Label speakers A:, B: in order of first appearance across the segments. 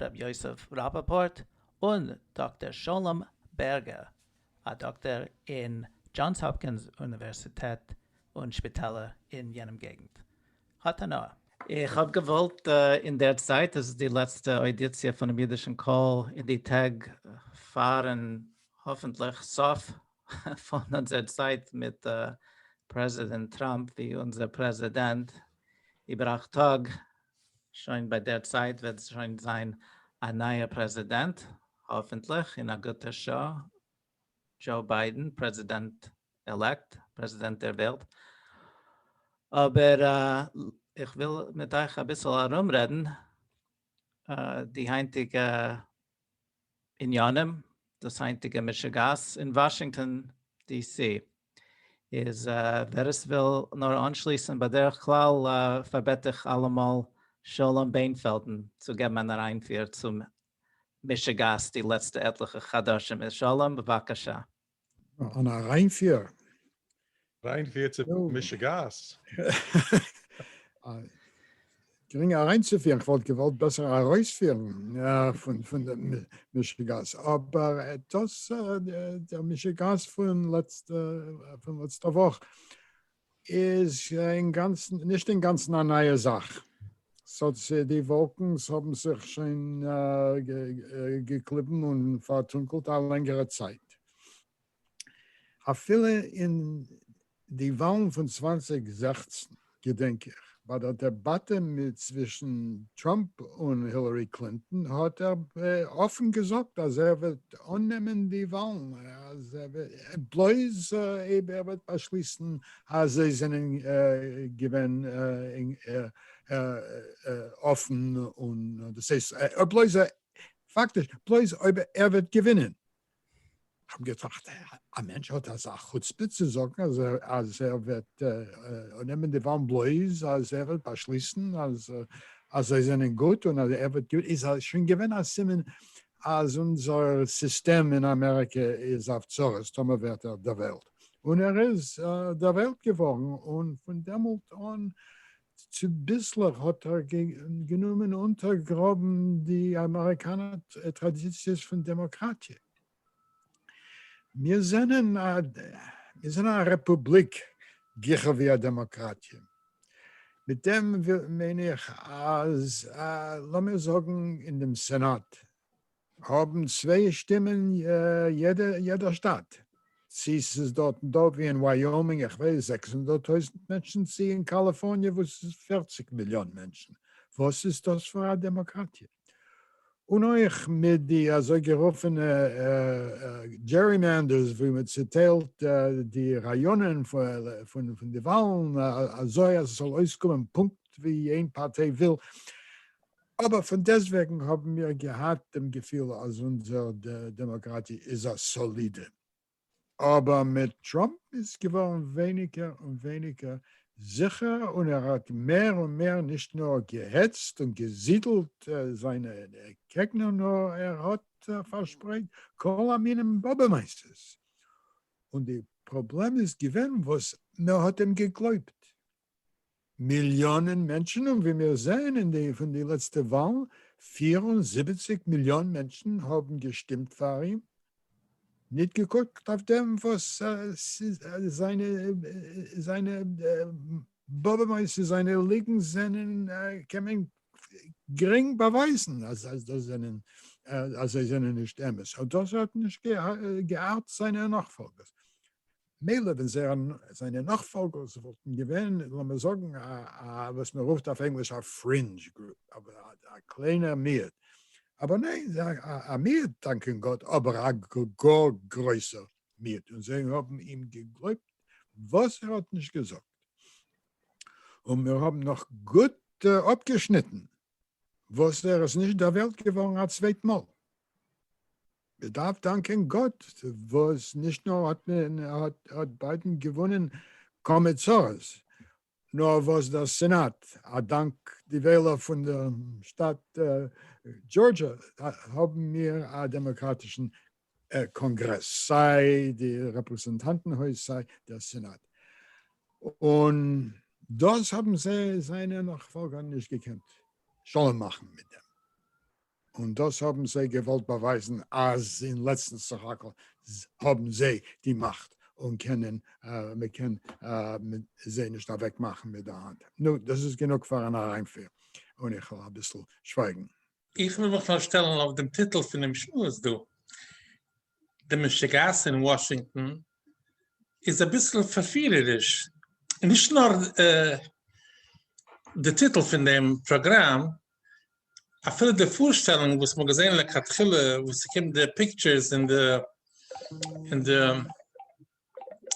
A: ר' יוסף ראפאפארט און דאקטער שלום בערגער, א דאקטער אין דזשאנס האפקינס אוניווערסיטעט און שפיטעלער אין יענעם געגנט. האט הנאה. איך האב געוואלט אינדערצייט, עס איז די לעצטע אודיציע פונעם אידישן קול אין די טעג פארן האפענטליך סוף פון אונזער צייט מיט פרעזידענט טראמפ ווי אונזער פרעזידענט איבער אכט טאג, שוין ביי דער צייט וועט שוין זיין א נייער פרעזידענט, האפענטליך אין א גוטע שעה, דזשאו ביידען, פרעזידענט עלעקט, פרעזידענט דער וועלט. אבער איך וויל מיט אייך אביסל ארומרעדן די היינטיגע בנינים, דאס היינטיגע מישא גאס אין וואשינגטאן די סי, איז ווער עס וויל נאר אנשליסן בדרך כלל פארבעט איך אלעמאל שלום בענפעלדן צו געבן אן אריינפיר צו מישא גאס די לעצטע עטליכע חדשים איז שלום בבקשה. אן
B: אריינפיר?
C: אריינפיר צו משוגעת?
B: גרינג אריינצופירן, איך וואלט געוואלט בעסער ארויספירן פון דעם משוגעת, אבער דאס דער משוגעת פון לעצטע פון לעצטע וואך איז אינגאנצן, נישט אינגאנצן א נייע זאך. ס'האט זיך, די וואלקנס האבן זיך שוין געקליבן און פארטונקלט א לענגערע צייט. אפילו אין די וואלן פון צוואנציג זעכצן געדענק איך ביי דער דעבאטע צווישן טראמפ און הילערי קלינטאן האט ער אפן געזאגט אז ער וועט אננעמען די וואלן בלויז אויב ער וועט באשליסן אז זיי זענען געווען אפן און דאס הייסט בלויז פאקטיש בלויז אויב ער וועט געווינען. כ'האב געטראכט, א מענטש האט אזא חוצפה צו זאגן אז אז ער וועט נעמען די וואלן בלויז אז ער וועט באשליסן אז אז זיי זענען גוט און אז ער וועט געווינען, איז עס שוין געווען א סימן אז אונזער סיסטעם אין אמעריקע איז אויף צרות, טאמער ווערט ער דערוועלט. און ער איז דערוועלט געווארן, און פון דעמאלט אן צוביסלעך האט ער גענומען אונטערגראבן די אמעריקאנער טראדיציעס פון דעמאקראטיע. מיר זענען א רעפובליק גיכער ווי א דעמאקראטיע. מיט דעם מיין איך אז לאמיר זאגן אין דעם סענאט האבן צוויי שטימען יעדע שטאט, צו ס'איז דארט דא ווי אין ווייאמינג איך ווייס זעקס הונדערט טויזנט מענטשן צו אין קאליפארניע וואס איז פֿערציק מיליאן מענטשן, וואס איז דאס פאר א דעמאקראטיע? און אויך מיט די אזוי גערופענע דזשערימענדערס ווי מען צוטיילט די ראיאנען פון די וואלן אזוי אז עס זאל אויסקומען פונקט ווי איין פארטיי וויל, אבער פון דעסטוועגן האבן מיר געהאט דעם געפיל אז אונזער דעמאקראטיע איז א סאלידע. אבער מיט טראמפ איז געווארן ווייניגער און ווייניגער זיכער און ער האט מער און מער נישט נאר געהעצט און געזידלט זיינע קעגנער נאר ער האט פארשפרייט כל המינים באבע-מעשה'ס און די פראבלעם איז געווען וואס מען האט אים געגלויבט. מיליאנען מענטשן און ווי מיר זעען אין די פון די לעצטע וואלן פֿיר און זיבעציק מיליאן מענטשן האבן געשטימט פאר אים ניט געקוקט אויף דעם וואס זיינע זיינע באבעמעס און זיינע ליגנס זענען קען מען גרינג באווייזן אז דאס זענען אז זיי זענען נישט אמת און דאס האט נישט געהארט זיינע נאכפאלגערס. מילא ווען זיינע נאכפאלגערס וואלטן געווען לאמיר זאגן א וואס מען רופט אויף ענגליש א פרינדזש גרופ, אבער א קליינער מיעוט, אבער ניין זיי האבן א מיעוט דאנקען גאט אבער א גאר גרויסער מיעוט און זיי האבן אים געגלויבט וואס ער האט נישט געזאגט און מיר האבן נאך גוט אפגעשניטן. וואס ער איז נישט דערוועלט געווארן א צווייט מאל. מען דארף דאנקען גאט וואס נישט נאר האט מען האט ביידען געוואונען כמה צרות, נאר וואס דער סענאט, אדאנק די וועלער פון דעם שטאַט דזשאָרדזשע, האבן מיר א דעמאקראטישן קאנגרעס, סיי די רעפרעזענטאנטן הויז סיי דער סענאט, און דאס האבן זיי זיינע נאכפאלגער נישט געקענט שלום מאכן מיט דעם, און דאס האבן זיי געוואלט באווייזן אז אין לעצטנס סך הכל האבן זיי די מאכט און קענען מען קען זיי נישט אוועקמאכן מיט די האנט. נו, דאס איז גענוג פאר אן אריינפיר, און איך וועל אביסל שווייגן. איך וויל מיך נאר
D: שטעלן אויף דעם טיטל פונעם שמועס דא. די משוגעת אין וואשינגטאן איז אביסל פארפירעריש. נישט נאר די טיטל פון דעם פראגראם, אפילו די פארשטעלונג וואס מ'האט געזען לכתחילה וואס ס'קומט די פיקטשערס און די און די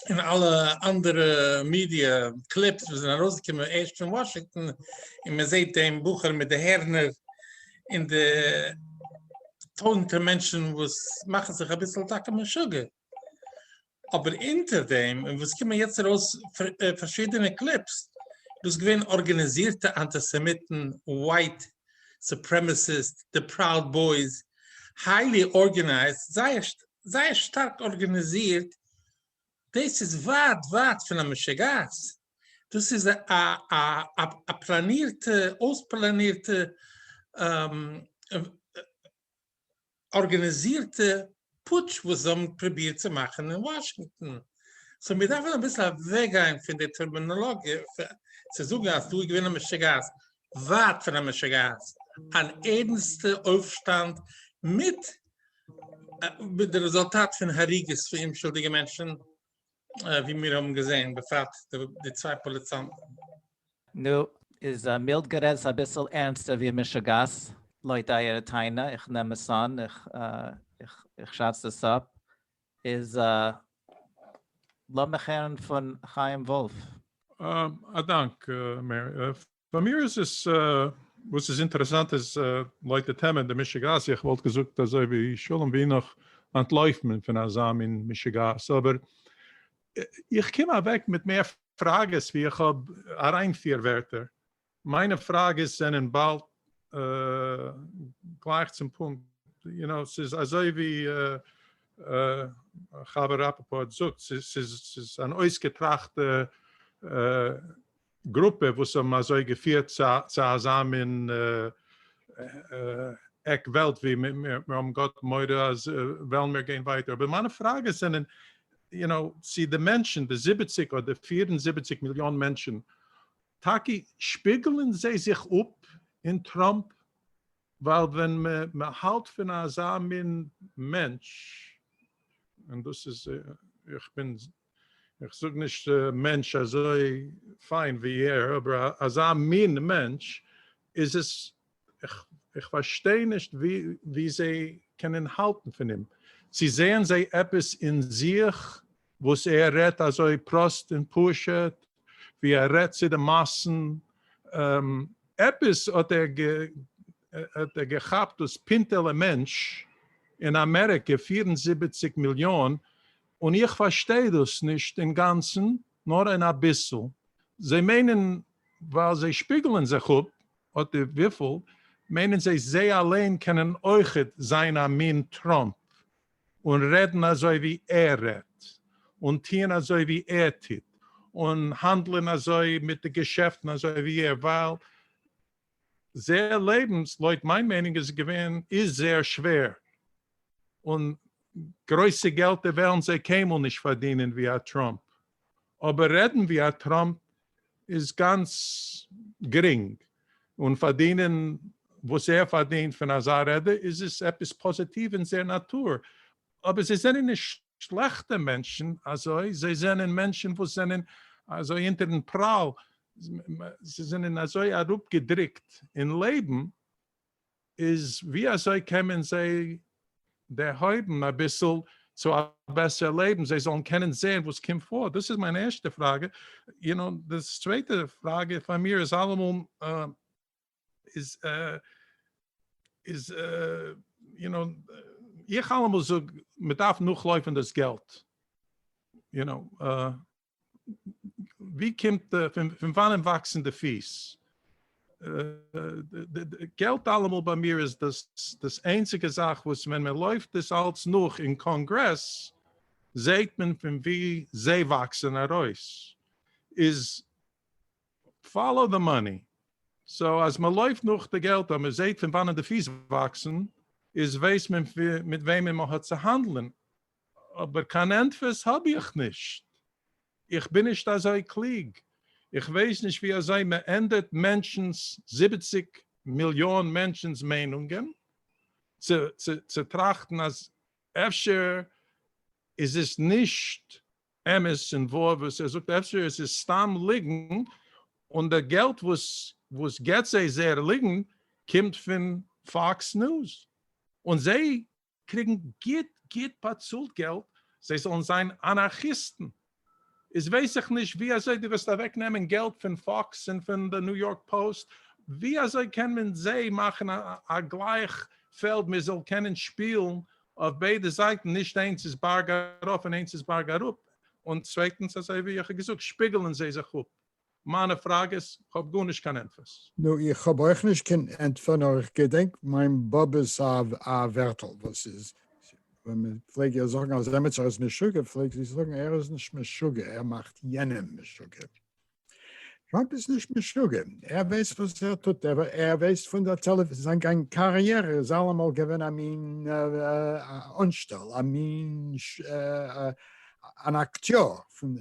D: און אלע אנדערע מידיע קליפס וואס זענען ארויסגעקומען ערשט פון וואשינגטאן, און מען זעט דעם בחור מיט די הערנער, און די טויזנטער מענטשן וואס מאכן זיך אביסל טאקע משוגע, אבער אונטער דעם, און וואס קומען יעצט ארויס פארשידענע קליפס, דאס געווען ארגאניזירטע אנטיסעמיטן, ווייט סופרעמעסיסט, די פראוד בויס, היילי ארגענייזט, זייער זייער שטארק ארגאניזירט, דאס איז ווייט ווייט פון א משוגעת, דאס איז א פלאנירטע אויספלאנירטע ארגאניזירטע פוטש וואס זיי האבן פרובירט צו מאכן אין וואשינגטאן, סאו מיר דארפן אביסל אוועקגיין פון די טערמינאלאגיע צו זאגן אז דא איז געווען א משוגעת, ווייט פון המשא כה'ס, אן ערנסטע אויפשטאנד מיט די רעזולטאט פון הריגות פון אומשולדיגע מענטשן, ווי מיר האבן געזען, בפרט די צוויי פאליצאנטן. נו,
A: איז מילד גערעדט אביסל ערנסטער ווי משא כ'ס, לויט אייערע טענה, איך נעם עס אן, איך שאץ דאס אפ, איז לאמיך הערן פון חיים וואלף. א
C: דאנק מאיר. פאר מיר איז עס, וואס איז אינטערעסאנט איז לויט די טעמע די משוגעת, איך וואלט געזאגט אזוי ווי שלום ווי נאך אנטלויפן פון אזא מין משוגעת, אבער איך קום אוועק מיט מער פראגעס ווי איך האב אריין פיר ווערטער, מיינע פראגעס זענען באלד גלייך צום פונקט, יו נאו, ס'איז אזוי ווי חבר ראפאפארט זאגט, ס'איז אן אויסגעטראכטע גרופע וואס האבן אזוי געפירט צו אזא מין עק וועלט ווי מיר האבן גאט מורא אז וועלן מיר גיין ווייטער, אבער מיינע פראגעס זענען, יו נאו, צו די מענטשן, די זיבעציק אדער פיר און זיבעציק מיליאן מענטשן טאקע שפיגלען זיי זיך אפ אין טראמפ, ווייל ווען מען האלט פון אזא מין מענטש, און דאס איז, איך בין, איך זאג נישט מענטש אזוי פיין ווי ער, אבער אזא מין מענטש, איז עס איך פארשטיי נישט ווי זיי קענען האלטן פון אים. צו זעען זיי עפעס אין זיך וואס ער רעדט אזוי פראסט און פשוט, ווי ער רעדט צו די מאסן, עפעס האט ער געכאפט דאס פינטעלע מענטש אין אמעריקע פֿיר און זיבעציק מיליאן, און איך פארשטיי דאס נישט אינגאנצן, נאר אין אביסל. זיי מיינען ווייל זיי שפיגלען זיך אפ אט די וויפיל, מיינען זיי זיי אליין קענען אויכעט זיין א מין טראמפ, און רעדן אזוי ווי ער רעדט, און טוען אזוי ווי ער טוט, און האנדלען אזוי מיט די געשעפטן אזוי ווי ער, ווייל זייער לעבנס, לויט מיין מיינונג, איז געווען, איז זייער שווער, און גרויסע געלטער וועלן זיי קיינמאל נישט פארדינען ווי א טראמפ, אבער רעדן ווי א טראמפ איז גאנץ גרינג, און פארדינען וואס ער פארדינט פון אזא רעדע איז עס עפעס פאזיטיוו אין זייער נאטור, אבער זיי זענען נישט שלעכטע מענטשן אזוי, זיי זענען מענטשן וואס זענען אזוי אונטערן פראל, זיי זענען אזוי אראפגעדרוקט אין לעבן, איז ווי אזוי קען מען זיי דערהויבן אביסל צו א בעסערע לעבן זיי זאלן קענען זעהן וואס קומט פאר, דאס איז מיין ערשטע פראגע, יו נאו, די צווייטע פראגע פאר מיר איז אלעמאל איז איז יו נאו איך אלעמאל זאג מען דארף נאכלויפן דאס געלט יו נאו. ווי קומט די, פון וואנען וואקסן די פיס? געלט אלעמאל ביי מיר איז דאס איינציגע זאך וואס ווען מען לויפט דאס אלץ נאך אין קאנגרעס זעהט מען פון ווי זיי וואקסן ארויס, איז פאלאו די מאני, סאו אז מען לויפט נאך די געלט און מען זעהט פון וואנען די פיס וואקסן איז ווייסט מען מיט וועמען מען האט צו האנדלען, אבער קיין ענטפערס האב איך נישט, איך בין נישט אזוי קלוג, איך ווייס נישט ווי אזוי מען ענדערט מענטשנ'ס, זיבעציק מיליאן מענטשנ'ס מיינונגען, צו טראכטן אז אפשר איז עס נישט אמת און וואר וואס ער זאגט, אפשר איז עס סתם ליגן, און די געלט וואס געבט זיי זייער ליגן קומט פון פאקס ניוז, און זיי קריגן גוט גוט באצאלט געלט זיי זאלן זיין אנארכיסטן, איז ווייס איך נישט ווי אזוי דו וועסט אוועק נעמען געלט פון פאקס און פון די ניו יארק פאוסט, ווי אזוי קען מען זיי מאכן א גלייך פעלד מען זאל קענען שפילן אויף ביידע זייטן, נישט איינס איז בארג ארויף און איינס איז בארג אראפ, און צווייטנס אזוי ווי איך האב געזאגט שפיגלען זיי זיך אפ. מיינע פראגעס, כ'האב גארנישט קיין ענטפערס. נו איך האב אויך נישט
B: קיין ענטפער נאר איך געדענק מיין באבע'ס א ווערטל וואס איז ווען מען פלעג איר זאגן אז עמיצער איז משוגע פלעג זי זאגן ער איז נישט משוגע ער מאכט יענעם משוגע. טראמפ איז נישט משוגע ער ווייסט וואס ער טוט ער ווייסט פון די טעלעוויזיע זיין גאנג קאריערע איז אלעמאל געווען א מין אנשטעל א מין אן אקטיאר פון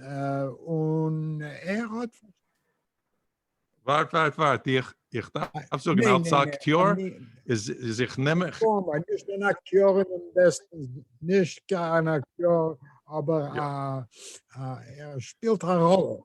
B: און ער האט ווארט
C: ווארט ווארט איך איך דארף זאגן אלץ אקטיאר איז איז איך נעם איך נישט אן
B: אקטיאר אין דעם בעסטן נישט קיין אקטיאר אבער ער שפילט א ראלע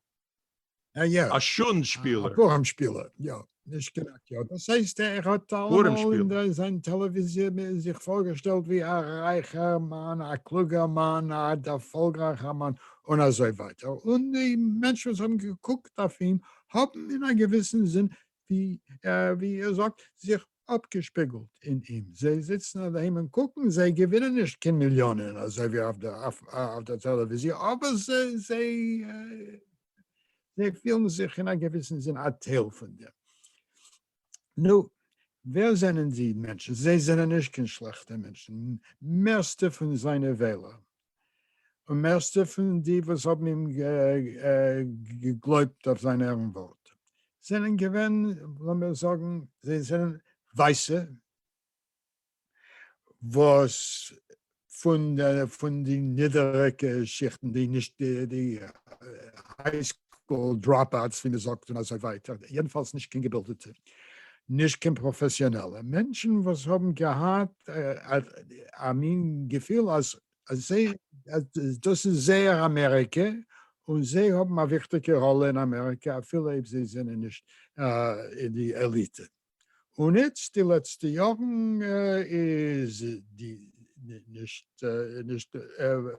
B: אה יא. א שאן
C: שפילער. א פארעם שפילער,
B: יא. נישט קנאק, יא. דאס הייסט ער האט אלעמאל אין זיין טעלעוויזיע זיך פארגעשטעלט ווי א רייכער מאן, א קלוגער מאן, א דערפאלגרייכער מאן, און אזוי ווייטער, און די מענטשן וואס האבן געקוקט אויף אים האבן אין א געוויסן זין, ווי ער זאגט, זיך אפגעשפיגלט אין אים, זיי זיצן אדעהם און קוקן, זיי געווינען נישט קיין מיליאנען אזוי ווי אויף דער טעלעוויזיע, אבער זיי פילן זיך אין א געוויסן זין א טייל פון דעם. נו, ווער זענען די מענטשן? זיי זענען נישט קיין שלעכטע מענטשן, מערסטע פון זיינע וועלער און מערסטע פון די וואס האבן אים געגלויבט אויף זיין ערן ווארט זענען געווען, לאמיר זאגן, זיי זענען ווייסע וואס פון די נידעריגע שיכטן, די נישט די היי סקול דראפ אוטס ווי מען זאגט און אזוי ווייטער, יעדנפאלס נישט קיין געבילדעטע, נישט קיין פראפעסיאנעלע מענטשן וואס האבן געהאט א מין געפיל אז דאס איז זייער אמעריקע און זיי האבן א וויכטיגע ראלע אין אמעריקע אפילו אויב זיי זענען נישט אין די עליטע. און איצט די לעצטע יארן איז די נישט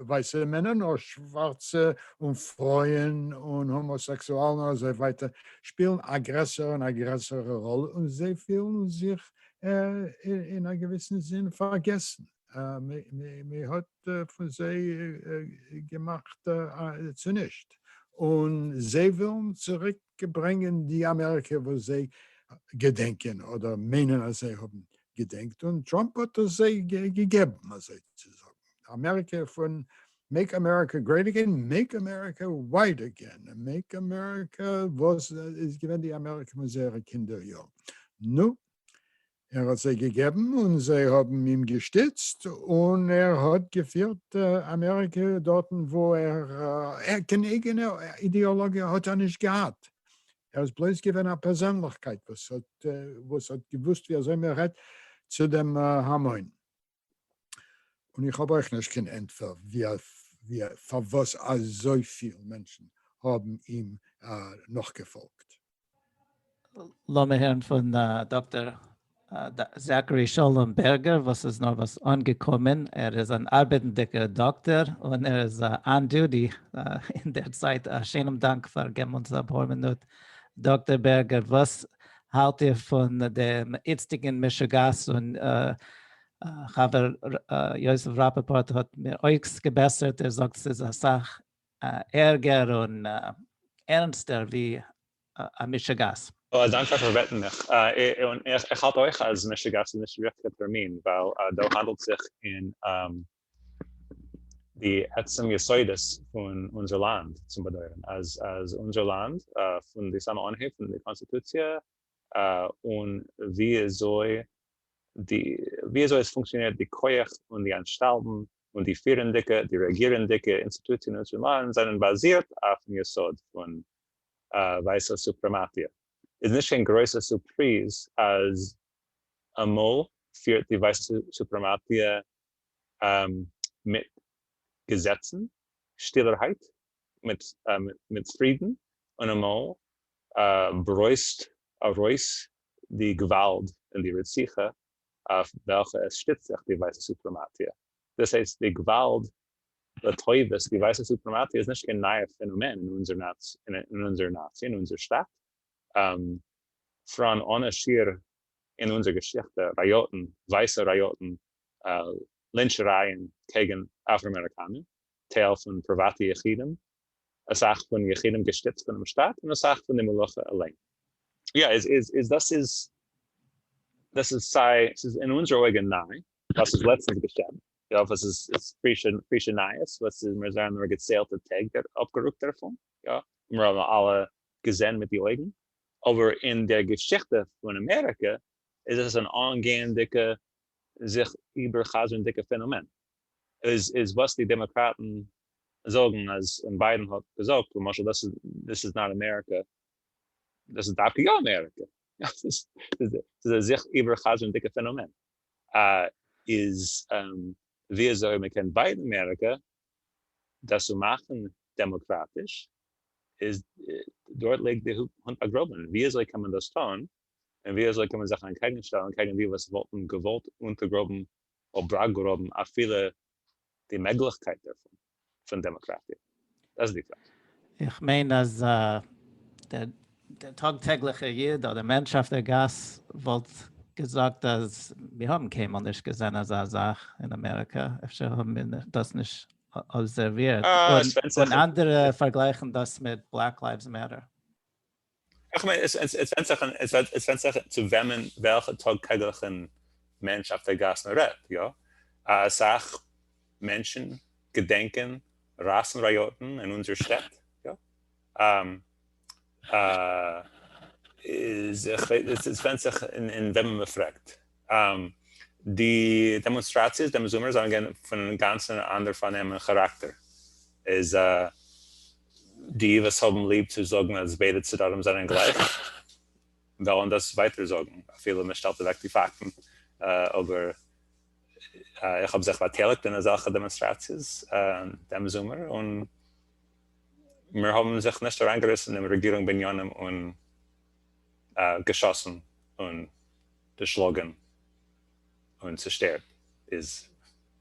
B: ווייסע מענער נאר שווארצע און פרויען און האמאסעקסואלן און אזוי ווייטער שפילן א גרעסערע און א גרעסערע ראלע און זיי פילן זיך אין א געוויסן זין פארגעסן, מען האט פון זיי געמאכט צונישט און זיי ווילן צוריק ברענגען די אמעריקע וואס זיי געדענקען אדער מיינען אז זיי האבן געדענקט און טראמפ האט עס זיי געגעבן אזוי צו זאגן אמעריקע פון מעיק אמעריקע גרעיט אגעין מעיק אמעריקע ווייט אגעין מעיק אמעריקע וואס איז געווען די אמעריקע פון זייערע קינדער יארן נו ער האט זיי געגעבן און זיי האבן אים געשטיצט און ער האט געפירט אמעריקע דארטן וואו ער קיין אייגענע אידעאלאגיע האט ער נישט געהאט ער איז בלויז געווען א פערזענליכקייט וואס האט וואס האט געוואוסט ווי אזוי מען רעדט צו דעם המון. און איך האב אויך נישט קיין ענטפער ווי פארוואס אזויפיל מענטשן האבן אים נאכגעפאלגט.
A: לאמיר הערן פון דאקטער זאַקאַרי שלום בערגער וואָס איז נאָרוואָס אָנגעקומען. ער איז אַן אַרבעטנדיקער דאָקטער און ער איז אָן דוטי אין דער צייט. אַ שענעם דאַנק פֿאַר געבן אונדז אַ פּאָר מינוט. דאָקטער בערגער, וואָס האַלט איר פֿון דעם איצטיקן משוגעת? און חבֿר יוסף ראַפּאָפּאָרט האָט מיר אויסגעבעסערט. ער זאָגט, ס'איז אַ סך ערגער און ערנסטער ווי א משוגעת. אה, דאנק פאר פארבעטן
E: מיך. און איך האלט אויך אז משוגעת איז נישט ריכטיגע טערמין, ווייל דא האנדלט זיך אין די עצם יסודות פון אונזער לאנד צום באדויערן, אז אונזער לאנד פון די סאמע אנהייב פון די קאנסטיטוציע אן וויאזוי די וויאזוי עס פונקציאנירט די כח און די אנשטאלטן און די פירענדיגע די רעגירענדיגע אינסטיטוציען אין אונזער לאנד זענען באזירט אויפן יסוד פון ווייסע סופרעמאטיע איז נישט קיין גרויסע סורפריז אז אמאל פירט די ווייסע סופרעמאטיע מיט געזעצן שטילערהייט מיט פרידן און אמאל ברויזט ארויס די געוואלד און די רציחה אויף וועלכע עס שטיצט זיך די ווייסע סופרעמאטיע דאס הייסט די געוואלד לטובת, דו ווייסט אז סופרעמאטי איז נישט קיין נייע פענאמען אין אונזער נאציע, אין אונזער שטאט, פראן אנע שיעור אין אונזער געשיכטע, ראיאטן, ווייסע ראיאטן, לינטשערייען קעגן אפראמעריקאנע, טייל פון פריוואטע יחידים, אסאך פון יחידים געשטיצט פונעם שטאט, און אסאך פון די מלוכה אליין. יא, איז דאס איז, דאס איז סיי, ס'איז אין אונזער אויגן ניי, ווייל ס'איז לעצטנס געשען, איך האף אז עס איז פרישע נייעס ווייל עס איז מיר זענען נאר געציילטע טעג אפגערוקט דערפון, יא מיר האבן אלע געזען מיט די אויגן, אבער אין דער געשיכטע פון אמעריקע איז עס אן אנגייענדיגע זיך איבערחזרנדיגע פענאמען, איז איז וואס די דעמאקראטן זאגן אז און ביידן האט געזאגט למשל דאס איז דיס איז נאט אמעריקע דאס איז דווקא יא אמעריקע, יא עס איז א זיך איבערחזרנדיגע פענאמען. איז וויאזוי מען קען בייטן אמעריקא דאס צו מאכן דעמאקראטיש, איז דארט ליגט די הונט באגראבן, וויאזוי קען מען דאס טון, און וויאזוי קען מען זיך אנטקעגנשטעלן קעגן די וואס וואלטן געוואלט אונטערגראבן אבראגראבן אפילו די מעגליכקייט דערפון פון דעמאקראטיע. דאס איז די קלאפ. איך מיין
A: אז דער דער טאג טעגליכער יוד אדער מענטש אויף דער גאס וואלט געזאגט אז מיר האבן קיינמאל נישט געזען אזא זאך אין אמעריקא, אפשר האבן מיר דאס נישט אבזערווירט, און אנדערע פארגלייכן דאס מיט בלעק לייווס מעטער.
E: איך מיין עס ווענדט זיך עס ווענדט זיך צו וועמען וועלכע טאג טעגליכן מענטש אויף דער גאס מען רעדט, יא א סאך מענטשן געדענקען ראסן ראיאטן אין אונזער שטעט, יא א א איז עס ווענדט זיך אין וועמען מען פרעגט. די דעמאנסטראציעס דעם זומער זענען געווען פון אן אינגאנצן אנדער פארנעם און כאראקטער. איז די וואס האבן ליב צו זאגן אז ביידע צדדים זענען גלייך, וועלן דאס ווייטער זאגן אפילו מען שטעלט אוועק די פאקטן. אבער איך האב זיך באטייליגט אין אזעלכע דעמאנסטראציעס דעם זומער, און מיר האבן זיך נישט אריינגעריסן אין רעגירונג בניינים און געשאסן און דערשלאגן און צעשטערט איז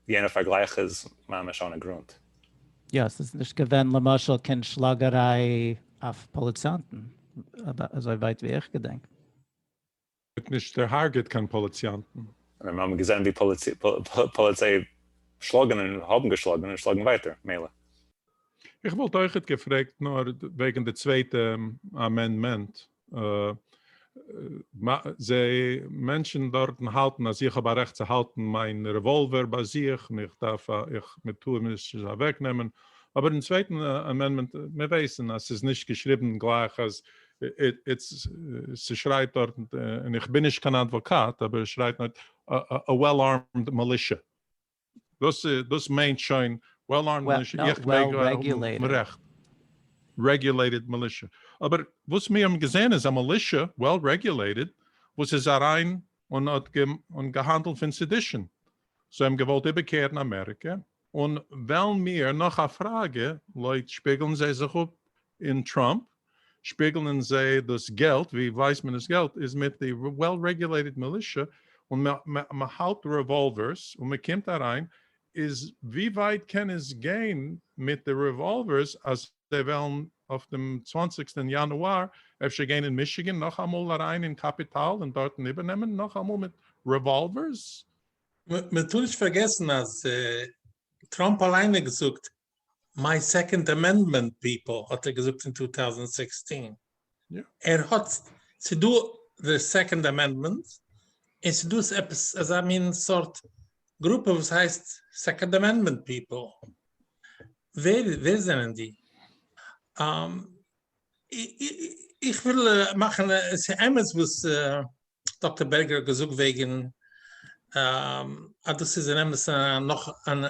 E: יענע פארגלייך איז ממש אנע גרונט. יא, עס איז
A: נישט געווען למשל קיין שלאגעריי אויף פאליציאנטן, אזוי ווייט ווי איך געדענק. מען האט
C: נישט דערהארגעט קיין פאליציאנטן. און ווען מען האט געזען ווי
E: פאליציי שלאגן און האבן געשלאגן און שלאגן ווייטער, מילא. איך
C: וואלט אויכעט געפרעגט נאר וועגן די צווייטע אמענדמענט. זיי מענטשן דארטן האלטן אז איך האב א רעכט צו האלטן מיין רעוואלווער ביי זיך און איך דארף א איך מען טאר מיר עס נישט אוועק נעמען אבער אין צווייטן אמענדמענט מיר ווייסן אז ס'איז נישט געשריבן גלייך אז איטס ס'שרייט דארט און איך בין נישט קיין אדוואקאט אבער עס שרייט א וועל ארמד מילישע. דאס מיינט שוין וועל ארמד מילישע, איך מעג האבן
A: רעכט.
C: רעגולעיטעד מילישע. אבער וואס מיר האבן געזען איז א מילישע, וועל רעגולעיטעד, וואס איז אריין און האט געהאנדלט פון סעדישאן. זיי האבן געוואלט איבערקערן אמעריקע, און וועלן מיר, נאך א פראגע, לויט שפיגלן זיי זיך אפ אין טראמפ, שפיגלען זיי דאס געלט, ווי ווייסט מען דאס געלט איז מיט די וועל רעגולעיטעד מילישע, און מ'האלט רעוואלווערס און מ'קומט אריין, איז ווי ווייט קען עס גיין מיט די רעוואלווערס אז זיי וועלן אויף דעם צוואנציגסטען יאנואר אפשר גיין אין מישיגען נאכאמאל אריין אין קעפיטאל און דארטן איבערנעמען נאכאמאל מיט רעוואלווערס?
D: מ'טאר נישט פארגעסן אז טראמפ אליין האט געזאגט מיי סעקאנד אמענדמענט פיפעל האט ער געזאגט אין טו טאוזענד סיקסטין ער
C: האט
D: ס'דא די סעקאנד אמענדמענט און ס'דא עפעס אזא מין סארט גרופע וואס הייסט סעקאנד אמענדמענט פיפעל ווער ווער זענען די איך וויל מאכן ס'אמת וואס. דאקטער בערגער האט געזאגט וועגען אז דאס איז אין אמת נאך אן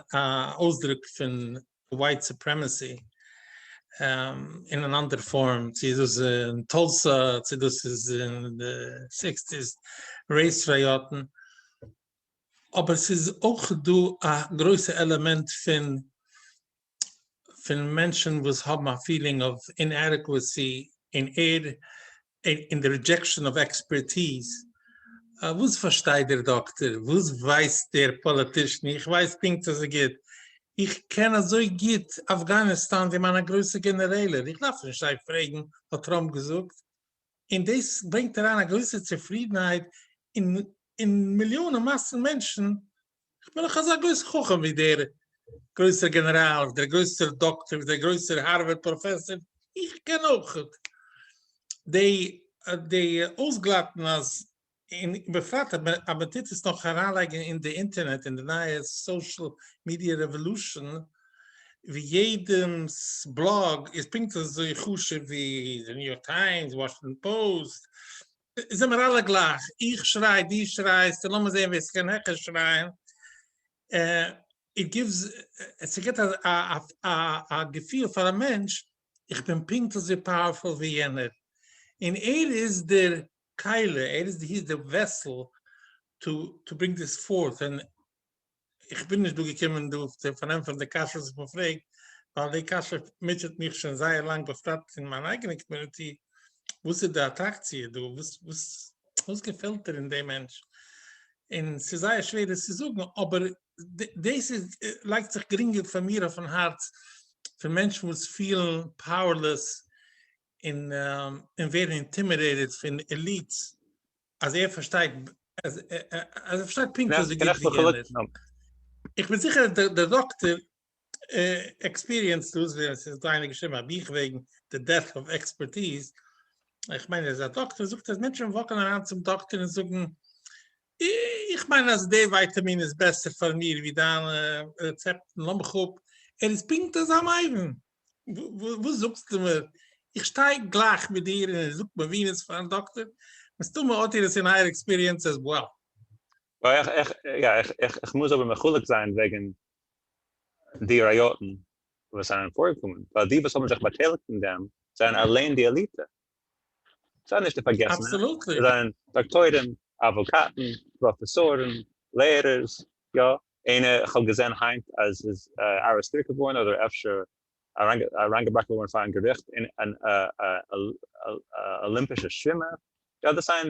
D: אויסדרוק פון ווייט סופרעמעסי אין אן אנדער פארם צו איז דאס אין טולסא צו דאס איז אין די סיקסטיס רעיס ראיאטען אבער ס'איז אויך דא א גרויסע עלעמענט פון פון מענטשן וואס האבן א פילינג אוו אינעדעקוועסי און ערד און די רידזשעקשאן אוו עקספערטיז, וואס פארשטייט דער דאקטער? וואס ווייסט דער פאליטישן? איך ווייס פונקט אזוי גוט, איך קען אזוי גוט אפגאניסטאן ווי מיינע גרויסע גענערעלער, איך דארף נישט זיי פרעגן האט טראמפ געזאגט, און דאס ברענגט אריין א גרויסע צופרידנהייט אין מיליאנען מאסן מענטשן איך בין דאך אזא גרויס חכם ווי דער גרויסער גענעראל, ווי דער גרויסער דאקטער, ווי דער גרויסער הארווארד פראפעסער, איך קען אויך די אויסגלאטן אז, און בפרט אז מען טוט עס נאך אריינלייגן אין די אינטערנעט, אין די נייע סאושעל מידיע רעוואלושען, ווי יעדעמ'ס בלאג איז פונקט אזוי חשוב ווי די ניו יארק טיימס, וואשינגטאן פאוסט, זעמער אלע גלייך, איך שריי, דו שרייסט, און לאמיר זען ווער ס'קען העכער שרייען, איט גיווס, ס'געבט א געפיל פאר א מענטש, איך בין פונקט אזוי פאוערפול ווי יענער, און ער איז דער כלי, ער איז די וועסל טו ברינג דיס פארט, און איך בין נישט דא געקומען דא צו פארענטפערן די קשיות וואס מען פרעגט, ווייל די קשיא מוטשעט מיך שוין זייער לאנג בפרט אין מיין אייגענע קאמיוניטי, וואס איז די אטראקציע דא? וואס געפעלט דיר אין דעם מענטש? און ס'איז זייער שווער עס צו זאגן, אבער דאס איז לייגט זיך גרינגער פאר מיר אויפן הארץ, פון מענטשן וואס פילן פאוערלעס און ווערן אינטימידעיטעד פון עליטס אז ער פארשטייט אז ער פארשטייט פונקט וואס די גוטס ווי די שלעכטס. איך בין זיכער אז דער דאקטער עקספיריענסט דאס, ווי עס איז דא איינער געשריבן א בוך וועגן די דעפט אוו עקספערטיז, איך מיין ער איז א דאקטער, ער זאגט אז מענטשן וואקן אריין צום דאקטער און זאגן, איך מיין אז די ווייטאמין איז בעסער פאר מיר ווי דיינע רעצעפטן, לאמיך אפ, ער איז פונקט אזא מבין, וואס זאגסטו מיר? איך שטיי גלייך מיט דיר און ער זאגט מבינות פארן דאקטער, מסתמא האט איר עס אין אייער עקספיריענס עז וועל. יא, איך
E: מוז אבער מחולק זיין וועגן די ראיאטן וואס זענען פארגעקומען, ווייל די וואס האבן זיך באטייליגט אין דעם זענען אליין די עליטע, זיי נישט די פארגעסענע, זיי זענען
D: דאקטוירים,
E: אוואקאטן, פראפעסארן, לערערס, יא, איינער, כ'האב געזען היינט אז ס'איז ארעסטירט געווארן אדער אפשר אריינגעבראכן געווארן פארן געריכט אן אלימפישע שווימער, יא דאס זענען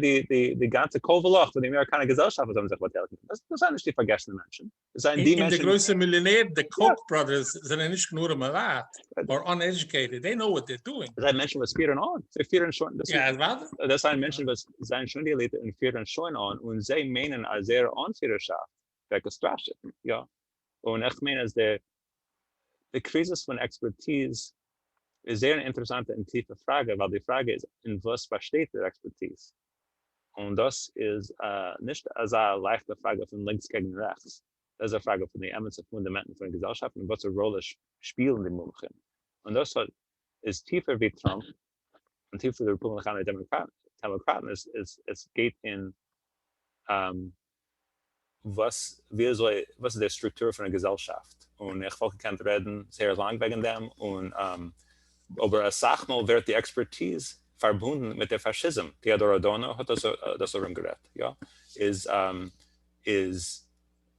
E: די גאנצע קול ולך פון די אמעריקאנע געזעלשאפט וואס האבן זיך באטייליגט דא, דאס זענען נישט די פארגעסענע מענטשן, דאס זענען די מענטשן, און די גרויסע מיליאנערן,
D: די קאוק בראדערס זענען נישט נאר מעוואט, אר אנעדיוקעיטעד, זיי נאו וואט זיי אר דואינג. דאס זענען
E: מענטשן וואס פירן אן, זיי פירן שוין, דאס
D: זענען מענטשן וואס
E: זענען שוין די עליטע און פירן שוין אן, און זיי מיינען אז זייער אנפירערשאפט ווערט געסטראשעט, יא. און איך מיין אז דער די קריזיס פון עקספערטיז איז זייער אן אינטערעסאנטע און טיפע פראגע, ווייל די פראגע איז אין וואס באשטייט דער עקספערטיז? און דאס איז א נישט אזא לייכטע פראגע פון לינקס קעגן רעכטס, דאס איז א פראגע פון די אמת'ע פונדאמענטן פונעם געזעלשאפט און וואסערע ראלע שפילן די מומחים, און דאס האט איז טיפער ווי טראמפ און טיפער ווי די רעפובליקאנער דעמאקראטן, עס עס עס גייט אין וואס ווי אזוי וואס איז דער סטרוקטור פון א געזעלשאפט און איך וואלט געקענט רעדן זייער לאנג וועגן דעם און אבער אסאך מאל ווערט די עקספערטיז פארבונדן מיט דער פאשיזם טיאדאר אדארנא האט דאס ארום גערעדט יא איז איז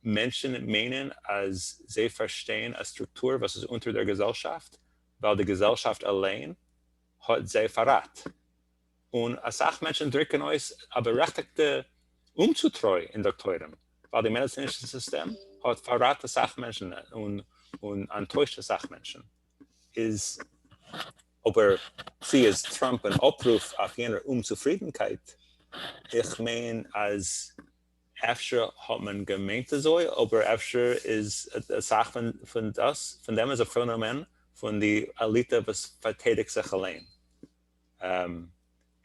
E: מענטשן מיינען אז זיי פארשטיין א סטרוקטור וואס איז אונטער דער געזעלשאפט ווייל די געזעלשאפט אליין האט זיי פארראט. און אסאך מענטשן דרוקן אויס א בארעכטיגטע אומצוטרוי אין דאקטוירים, ווייל די מעדעצינישע סיסטעם האט פארראט אסאך מענטשן און אנטוישט אסאך מענטשן, איז אבער צו איז טראמפ אן אפרוף אויף יענער אומצופרידנקייט? איך מיין אז אפשר האט מען געמיינט אזוי, אבער אפשר איז אסאך פון דעם איז א פענאמען פון די עליטע וואס פארטיידיגט זיך אליין,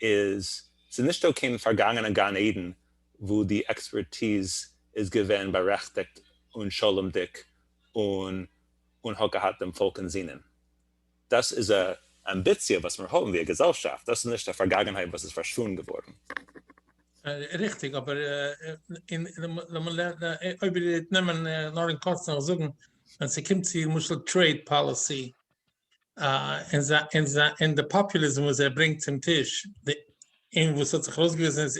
E: איז ס'איז נישט דא קיין פארגאנגענע גן עדן וואו די עקספערטיז איז געווען בארעכטיגט און שלומ'דיג און און האט געהאט דעם פאלק אין זינען. דאס איז א אמביציע וואס מיר האבן ווי א געזעלשאפט, דאס איז נישט א פארגאגענהייט וואס איז פארשווונדן געווארן.
D: ריכטיג, אבער אויב איר וועט נעמען נאר אין קורצן זאגן, ווען ס'קומט צו למשל טרעיד פאליסי, און די פאפוליזם וואס ער ברענגט צום טיש, און וואס האט זיך ארויסגעוויזן איז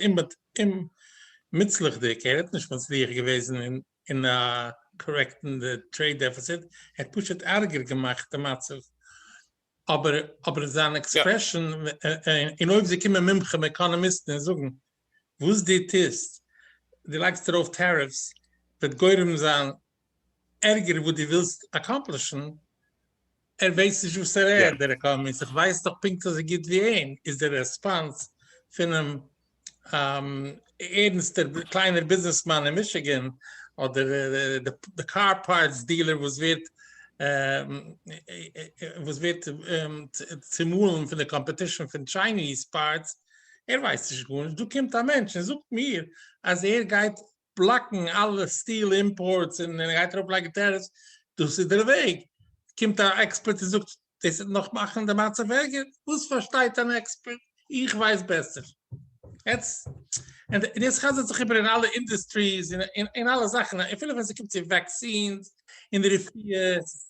D: אומ'מוצלח'דיג, ער האט נישט מצליח געוועזן אין קארעקטן די טרעיד דעפיציט, ער האט פשוט ארגער געמאכט די מצב. אבער זיין עקספרעשן, און אויב זיי קומען מומחים עקאנאמיסטן און זאגן וואס דו טוסט, דו לייגסט ארויף טעריפס, וועט גורם זיין ערגער וואס דו ווילסט אקאמפלישן, ער ווייסט נישט וואס ער רעדט דער עקאנאמיסט, איך ווייס דאך פונקט אזוי גוט ווי אים, איז דער רעספאנס פונעם ערנסטער קליינער ביזנעסמאן אין מישיגען, אדער די קאר פארטס דילער וואס ווערט וואס ווערט צומאלן פון די קאמפעטישן פון טשייניז פארטס, ער ווייסט נישט גארנישט, דא קומט א מענטש און זאגט מיר אז ער גייט בלאקן אלע סטיל אימפארטס און ער גייט ארויף לייגן טעריפס, דאס איז דער וועג, קומט א עקספערט און זאגט דאס וועט נאך מאכן די מצב ערגער, וואס פארשטייט אן עקספערט? איך ווייס בעסער. יעצט, און דאס חזר'ט זיך איבער אין אלע אינדוסטריס און אלע זאכן, אפילו ווען ס'קומט צו וואקסינס און רפואות.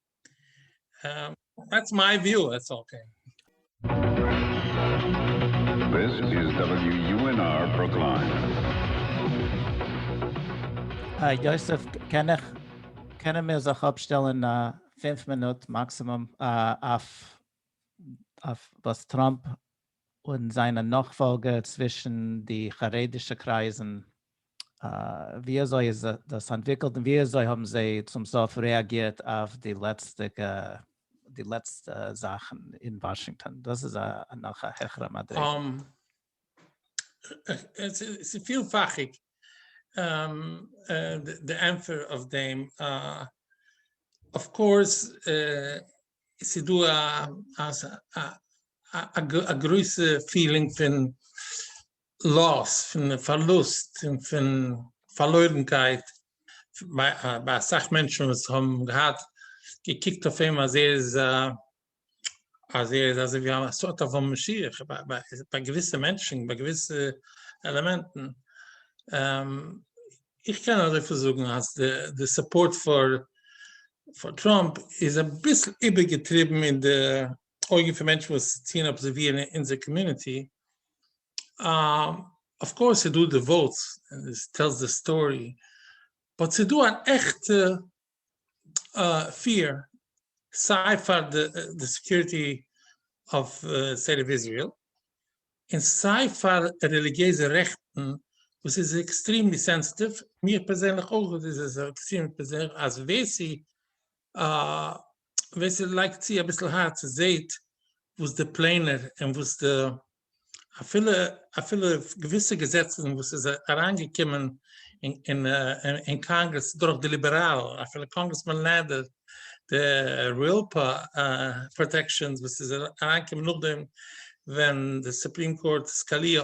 D: דעטס מיי וויו, איטס אקעי.
F: דעס איז WUNR ברוקלין.
A: היי יוסף, קען איך, קענען מיר זיך אפשטעלען פֿינף מינוט מאקסימום אויף אויף וואס טראמפ און זיינע נאכפאלגער צווישן די חרדישע קרייזן, ווי אזוי איז דאס אנטוויקלט און ווי אזוי האבן זיי צום סוף רעאגירט אויף די לעצטיגע די לעצטע זאכן אין וואשינגטאן, דאס איז נאך א העכערע מדריגה. ס'איז
D: פילפאכיג די ענטפער אויף דעם, אויף קאורס ס'איז דא א גרויסע פילינג פון לאס, פון פארלוסט, און פון פארלוירנקייט ביי אסאך מענטשן וואס האבן געהאט געקוקט אויף אים אז ער איז אז ער איז אזוי ווי א סארט אוו א משיח, ביי געוויסע מענטשן, ביי געוויסע עלעמענטן. איך קען אזויפיל זאגן אז די סופארט פאר טראמפ איז אביסל איבערגעטריבן אין די אויגן פון מענטשן וואס טוען אבזערווירן אונזער קאמיוניטי, אויף קאורס ס'איז דא די וואוטס און עס טעלס די סטארי, באט ס'איז דא אן עכטע פֿיר, סיי פאר די סעקיוריטי אוו סטעיט אוו איזריעל, און סיי פאר רעליגיעזע רעכטן, וואס איז עקסטריעמלי סענסעטיוו, מיר פערזענליך אויך איז עס עקסטריעמלי פערזענליך, אז ווער ס'איז ווער ס'לייגט צו אביסל הארץ זעהט וואס די פלענער און וואס די אפילו אפילו געוויסע געזעצן וואס איז אריינגעקומען אין אין קאנגרעס דורך די ליבעראלן אפילו קאנגרעסמאן נעדער די ריעלפא פראטעקשאנס וואס איז אריינגעקומען נאכדעם ווען די סופרים קאורט סקאליא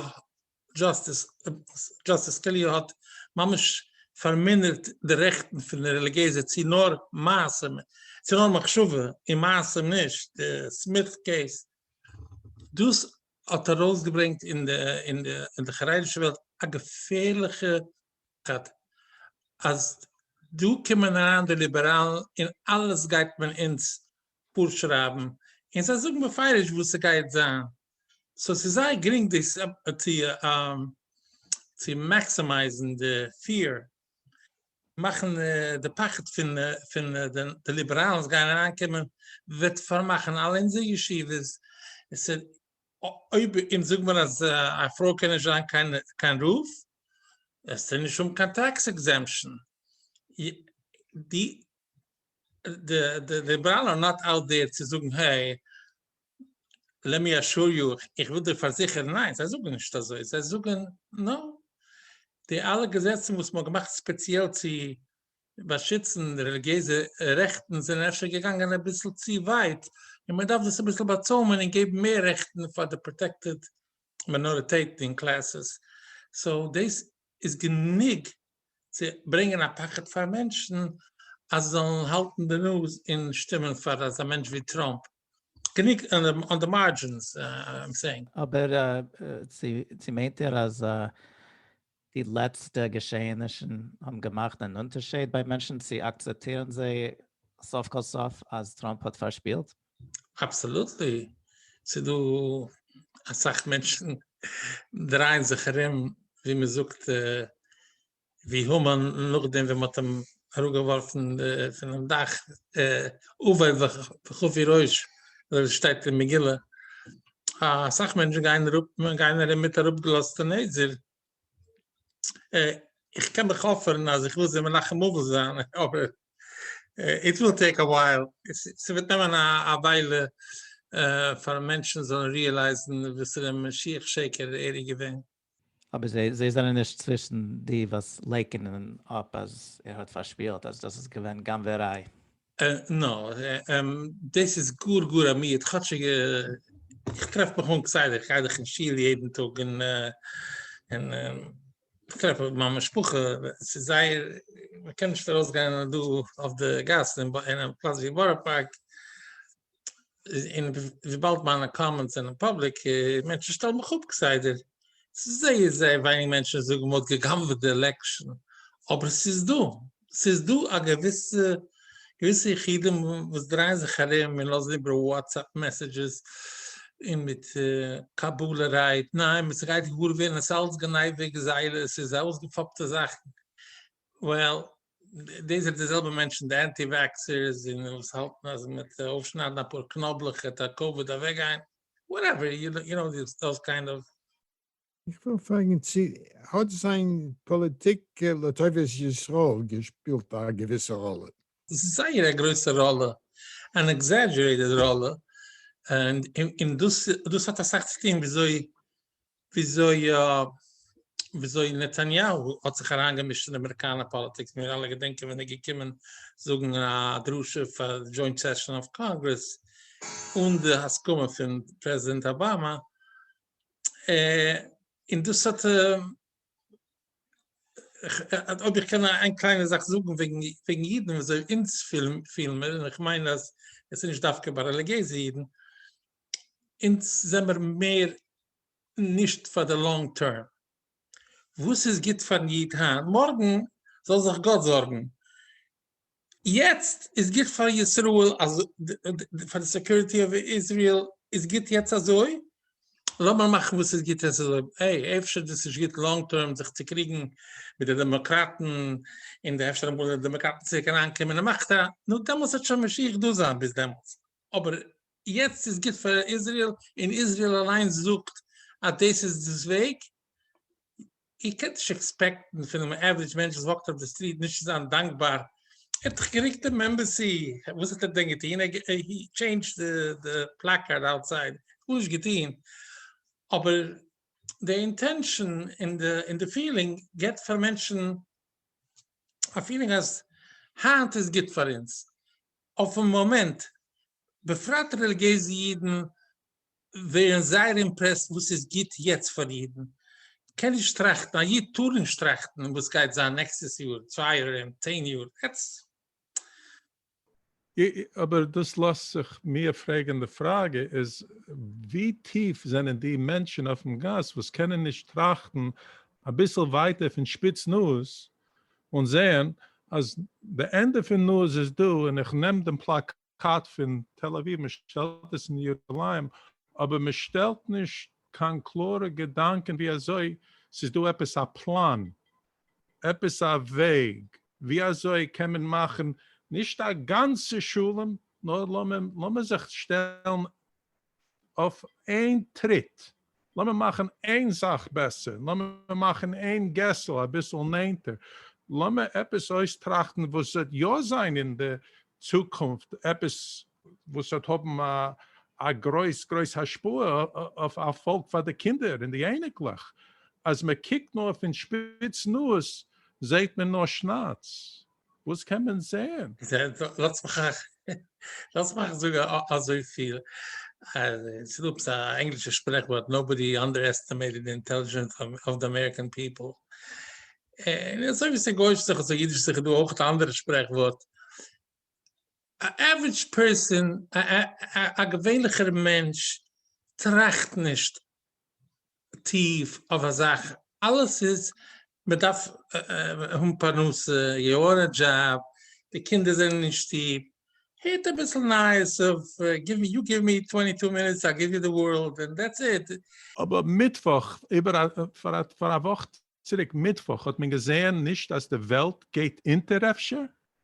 D: דזשאסטיס דזשאסטיס סקאליא האט ממש פארמינערט די רעכטן פון די רעליגיעזע צו נאר מעשים צו נאר מחשבה און מעשים נישט די סמיט קעיס דאס האט ארויסגעברענגט אין די חרדישע וועלט א געפערליכע דעבאטע, אז דא קומען אריין די ליבעראלן און אלעס גייט מען אונז פארשרייבן, און זיי זאגן בפירוש וואס ס'גייט זיין, סאו ס'איז זייער גרינג דאס צו מעקסימייזן די פיער. מאכן די פחד פון פון די ליבעראלן וואס גייען אריין קומען וועט פארמאכן אלע אונזערע ישיבות, עס איז אויב אונז זאג מיר אז א פרוי קען נישט זיין קיין קיין רב, וועסט די נישט האבן קיין טעקס עקזעמפשן, די די ליבעראלן אר נאט אוט דער צו זאגן העי לעמי אשור יו, איך וויל דיר פארזיכערן ניין זיי זאגן נישט אזוי, זיי זאגן נאר די אלע געזעצן וואס מ'האט געמאכט ספעציעל צו באשיצן רעליגיעזע רעכטן זענען אפשר געגאנגען אביסל צו ווייט און מען דארף דאס אביסל באצוימען און געבן מער רעכטן פאר די פראטעקטעד מינאריטעטן און קלעסעס, סאו דאס איז גענוג צו ברענגען א פחד פאר מענטשן אז זיי זאלן האלטן די נאז און שטימען פאר אזא מענטש ווי טראמפ גענוג אן די מארדזשינס איים סעינג. אבער צו
A: מיינט ער אז די לעצטע געשעהענישן האבן געמאכט אן אונטערשעיד ביי מענטשן צו אקצעפטירן זיי סוף כל סוף אז טראמפ האט פארשפילט? אבסאלוטלי,
D: ס'איז דא אסאך מענטשן דרייען זיך ארום ווי מ'זאגט ווי המן נאכדעם ווען מ'האט אים אראפגעווארפן פונעם דאך, אווי וכפי ראש אזוי ווי ס'שטייט אין מגילה, אסאך מענטשן גייען אראפ גייען ארום מיט אראפגעלאזטע נעזער, איך קען דאך אפערן אז איך וויל זיי מנחם אבל זיין, אבער איט וויל טעיק א ווייל, ס'וועט נעמען א וויילע פאר מענטשן זאלן ריעלייזן וואסערע משיח שקר ער איז געווען. אבער זיי
A: זיי זענען נישט צווישן די וואס לייקענען אפ אז ער האט פארשפילט אז דאס איז געווען גנבעריי. נא,
D: דאס איז גאר גאר א מיעוט, כאטשיג איך טרעף מיך אן כסדר, איך גיי דאך אין שול יעדן טאג און און איך טרעף מיין משפחה, ס'איז זייער, מ'קען נישט ארויסגיין דא אויף די גאס אין א פלאץ ווי בארא פארק, און וויבאלד מיינע קאמענטס זענען פובליק, מענטשן שטעלן מיך אפ כסדר, ס'איז זייער זייער ווייניג מענטשן וואס זאגן מ'האט גע'גנב'עט די עלעקשאן, אבער ס'איז דא, ס'איז דא א געוויסע, געוויסע יחידים וואס דרייען זיך ארום און לאזן איבער וואטסעפפ מעסעדזשעס און מיט קבלה רייד, ניין, ס'גייט געוואר ווערן עס איז אלץ גניבה גזילה, עס איז אויסגעפאפטע זאכן, וועל דאס זענען די זעלבע מענטשן די אנטי וועקסערס און וואס האלטן אז מיט אויפשניידן אפאר קנאבלעך העט א קאוויד אוועקגיין, וואטעווער, יו קנאו דאס קיינד אוו. איך וויל
B: פרעגן צו האט זיין פאליטיק לטובת ישראל געשפילט א געוויסע ראלע? עס איז זייער א
D: גרויסע ראלע, אן עקזעדזשערעיטעד ראלע, און דאס האט אסאך צו טון וויאזוי וויאזוי נתניהו האט זיך אריינגעמישט אין אמעריקאנער פאליטיק, מיר אלע געדענקען ווען ער איז געקומען זאגן א דרשה פאר די דזשוינט סעשאן אוו קאנגרעס אן די הסכמה פון פרעזידענט אבאמא, און דאס האט, אויב איך קען איין קליינע זאך זאגן וועגן אידן וויאזוי אונז פילן מיר, און איך מיין אז עס איז נישט דווקא ביי רעליגיעזע אידן, אונז זעמער מער נישט פאר די לאנג טערם. וואס איז גוט פארן איד היינט, מארגן זאל זיך גאט זארגן. יעצט איז גוט פאר ישראל, פאר די סעקיוריטי אוו איזריעל איז גוט יעצט אזוי, לאמיר מאכן וואס איז גוט יעצט אזוי. העי, אפשר דאס נישט גוט לאנג טערם זיך צו קריגן מיט די דעמאקראטן, און די אפשר אמאל די דעמאקראטן צוריק אריינקומען אין מאכט, נו דעמאלטס וועט שוין משיח דא זיין ביז דעמאלטס, אבער יעצט איז גוט פאר איזריעל און איזריעל אליינס זאגט אז דאס איז דאס וועג, איר קענט נישט עקספעקטן פונעם עווערידזש מענטש וואס וואקט אויף די סטריט נישט צו זיין דאנקבאר, ער האט דאך געריקט דעם עמבעסי, וואס האט ער דען געטון? ער האט טשעינדזשד די פלאקארד אוטסייד, גארנישט געטון, אבער די אינטענשאן און די פילינג געבט פאר מענטשן א פילינג אז היינט איז גוט פאר אונז, אויפן מאמענט, בפרט רעליגיעזע אידן ווערן זייער אימפרעסט וואס איז גוט יעצט פאר אידן, קען נישט טראכטן, א איד טאר נישט טראכטן וואס גייט זיין נעקסטעס יאר, צוויי יאר ארום, צען יאר, עטס.
C: אבער דאס לאזט זיך מיר פרעגן, די פראגע איז ווי טיף זענען די מענטשן אויפן גאס וואס קענען נישט טראכטן אביסל ווייטער פון שפיץ נאז און זעהן אז די ענדע פון נאז איז דא און איך נעם דעם פלאקאט קאט פון תל אביב מען שטעלט עס אין ירושלים אבער מען שטעלט נישט קיין קלארע געדאנקען ווי אזוי ס'איז דא עפעס א פלאן עפעס א וועג ווי אזוי קען מען מאכן נישט א גאנצע שלום נאר לאמיר זיך שטעלן אויף איין טריט, לאמיר מאכן איין זאך בעסער, לאמיר מאכן איין געסל אביסל נענטער, לאמיר עפעס אויסטראכטן וואס וועט יא זיין אין די צוקונפט, עפעס וואס וועט האבן א גרויס גרויס השפעה אויף א פאלק פאר די קינדער און די אייניקלעך, אז מען קוקט נאר פון שפיץ נאז זעהט מען נאר שנאץ, וואס קען מען זעהן? לאטס מיך
D: לאטס מיך זאגן אזויפיל, אז עס איז דא עפעס א ענגלישע שפרעכווארט, נאובאדי אנדערעסטימעיטעד די אינטעלידזשענס אוו די אמעריקען פיפל. און אזוי ווי עס איז גויאיש זיך אזוי אידיש זיך איז דא אויך א אנדערע שפרעכווארט. א עוורידזש פערסאן, א געווענליכער מענטש, טראכט נישט טיף אויף א זאך, אלעס איז מען דארף האבן פרנסה, יו אר א דזשאב, די קינדער זענען אין שטוב, הערט אביסל נייעס אויף, יו גיוו מי טווענטי טו מינוטס איי גיוו יו די ווארלד, און דעטס איט. אבער
C: מיטוואך, איבער א, פאר א וואך. צוריק מיטוואך האט מען געזעהן, נישט אז די וועלט גייט אונטער אפשר,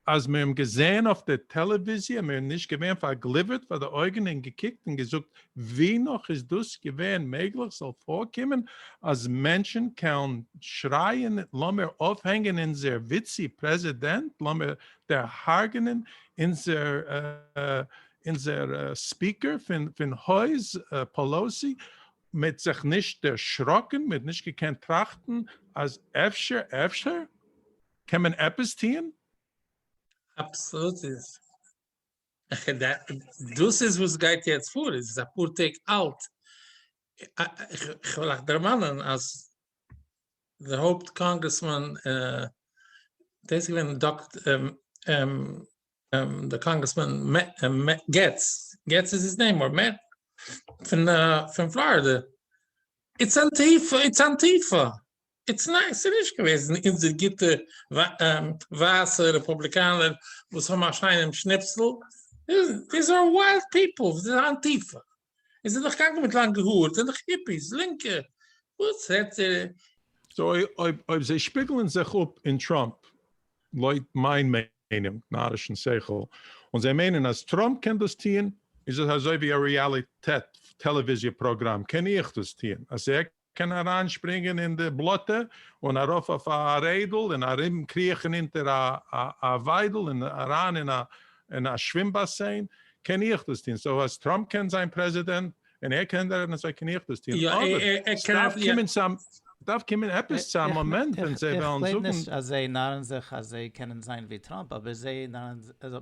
C: אז מיר האבן געזעהן אויף די טעלעוויזיע און מיר האבן נישט געווען פארגליווערט פאר די אויגן און געקוקט און געזאגט ווי נאך איז דאס געווען מעגליך ס'זאל פארקומען אז מענטשן קעלן שרייען לאמיר אויפהענגען אונזער וויצי פרעזידענט לאמיר דערהארגענען אונזער ספיקער פון הויז פעלאוסי מ'האט זיך נישט דערשראקן? מ'האט נישט געקענט טראכטן אז אפשר אפשר קען מען עפעס טוהן?
D: אבסאלוט איז דאס איז וואס גייט יעצט פאר עס איז אפאר טעג אלט איך וויל אייך דערמאנען אז די הויפט קאנגרעסמאן דאס איז געווען די קאנגרעסמאן געטץ, געטץ איז היז נעים, אר מעט, פון פלארידע, איטס אנטיפא, איטס אנטיפא, איטס ניין ס'איז נישט געוועזן אונזער גוטע ווייסע רעפובליקאנער וואס האבן א שיינעם שניפסל, דיס אר ווייט פיפל, אנטיפא. און זענען דאך קאנקען מיט לאנגע האר, זענען דאך היפיס, לינקע, וואס רעדט איר? סאו
C: אויב אויב זיי שפיגלען זיך אפ אין טראמפ, לויט מיין מיינונג, נארישן שכל, און זיי מיינען אז טראמפ קען דאס טוהן, איז עס אזוי ווי א רעאליטעט טעלעוויזיע פראגראם, קען איך דאס טוהן? אז ער קען אריינשפרינגען אין די בלאטע און ארויף אויף א רעדל און ארום קריכן אונטער א וויידל און אריין אין א שווים באסיין, קען איך דאס טון, סאו אז טראמפ קען זיין פרעזידענט און ער קען דאס אזוי קען איך דאס טון, אבער
D: סדארף
C: קומען עפעס צו א מאמענט ווען זיי וועלן זאגן. איך גלייב נישט אז זיי נארן
A: זיך אז זיי קענען זיין ווי טראמפ אבער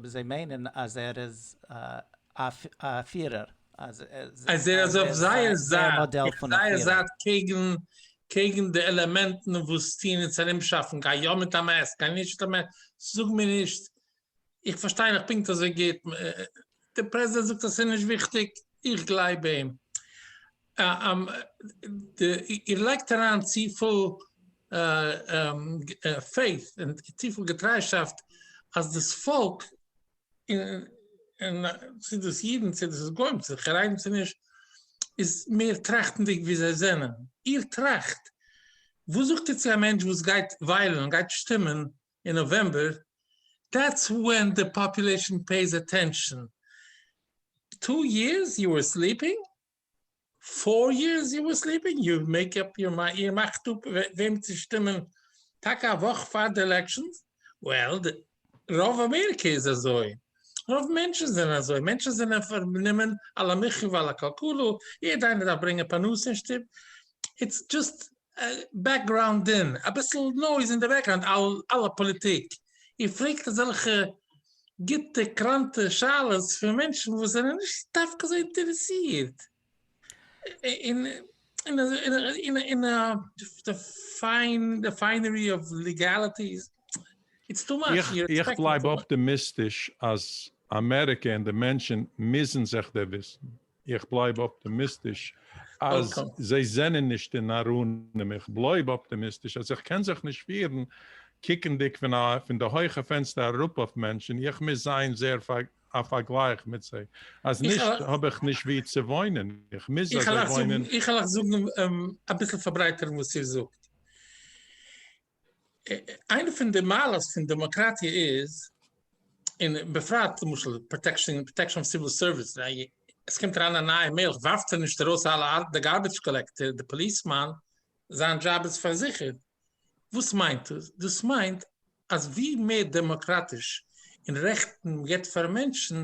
A: זיי מיינען אז ער איז א פירער. אז ער איז אויף
D: זייער זייט,
A: אויף
D: זייער זייט
A: קעגן
D: קעגן די עלעמענטן וואס טוען אונז ארומשאפן, גיי יא מיט א מעסק, גיי נישט מיט א מעסק, זאג מיר נישט, איך פארשטיי נאך פונקט אזוי גוט, דער פרעזידענט זאגט אז ס'איז נישט וויכטיג, איך גלייב אים. איר לייגט אריין צופיל faith און צופיל געטריישאפט אז דאס פאלק און צו דאס אידן צו דאס איז גוים צו חרדים צו נישט איז מער טראכטנדיג ווי זיי זענען איר טראכט וואס זאגט איר צו א מענטש וואס גייט וויילן גייט שטימען אין נאוועמבער דעטס ווען די פאפולעישן פעיס אטענשאן טו יערס יו ווער סליפינג פאר יערס יו אר סליפינג, יו מעיק אפ יור מיינד, איר מאכט אפ וועם צו שטימען טאקע א וואך פאר די עלעקשאנס, וועל די רוב אמעריקע איז אזוי, רוב מענטשן זענען אזוי, מענטשן זענען פארנומען על המחיה ועל הכלכלה, יעדע איינער דארף ברענגען פרנסה אין שטוב, איטס דזשאסט בעקגראונד און אביסל נויז אין די בעקגראונד על הפאליטיק, איר פרעגט אזעלכע גוטע קראנטע שאלות פון מענטשן וואס זענען נישט דווקא אזוי אינטערעסירט אין די פיינערי אוו ליגעליטיס. איך בלייב
C: אפטעמיסטיש אז אמעריקע און די מענטשן מוזן זיך דערוויסן. איך בלייב אפטעמיסטיש אז זיי זענען נישט אין ארונים, איך בלויב אפטעמיסטיש אז איך קען זיך נישט פירן קוקנדיג פון א פון די הויכע פענסטער אראפ אויף מענטשן, איך מוז זיין זייער פאר א פארגלייך מיט זיי, אז נישט האב איך נישט ווי צו וואוינען, איך מוז אזוי וואוינען. איך העל אייך זאגן,
D: אביסל פארברייטערן וואס איר זאגט. איינע פון די מעלות פון דעמאקראטיע איז, און בפרט למשל פראטעקשאן פראטעקשאן אוו סיוויל סערוויס, עס קומט אריין א נייע מלך ווארפט ער נישט ארויס אלע די גארביטש קאלעקטער די פאליסמאן, זיין דזשאב איז פארזיכערט. וואס מיינט דאס? דאס מיינט אז ווי מער דעמאקראטיש און רעכטן מען גיבט פאר מענטשן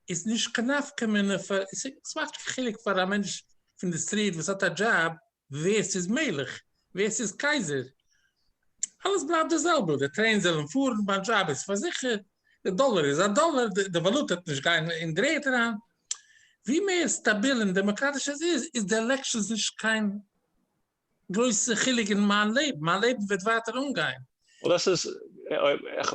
D: איז נישט קיין נפקא מינה פאר, עס מאכט נישט קיין חילוק פאר א מענטש פון די סטריט וואס האט א דזשאב ווער ס'איז מלך, ווער ס'איז קייזער, אלעס בלייבט די זעלבע, די טרעינס זעלן פארן, מיין דזשאב איז פארזיכערט, די דאלער איז א דאלער, די וואלוטע וועט נישט גיין אין די ערד אריין. ווי מער סטאביל און דעמאקראטיש עס איז, איז די עלעקשאנס נישט קיין גרויסע חילוק אין מיין לעבן, מיין לעבן וועט ווייטער אנגיין. דאס איז אויב
E: איך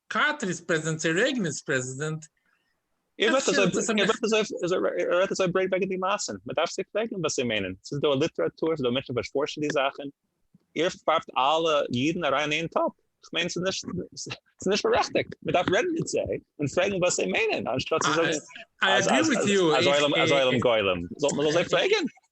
D: קארטער איז
E: פרעזידענט צו רעיגען איז פרעזידענט? ער רעדט אזוי ברייט וועגן די מעשים, מען דארף זיי פרעגן וואס זיי מיינען, ס'איז דא ליטעראטור, ס'איז דא מענטשן וואס פארשן די זאכן, איר ווארפט אלע אידן אריין אין איין טאפ, כ'מיין ס'איז נישט בארעכטיגט, מען דארף רעדן מיט זיי און פרעגן וואס זיי מיינען, אנשטאט צו
D: זאגן אז עולם
E: גולם, מען זאל זיי פרעגן.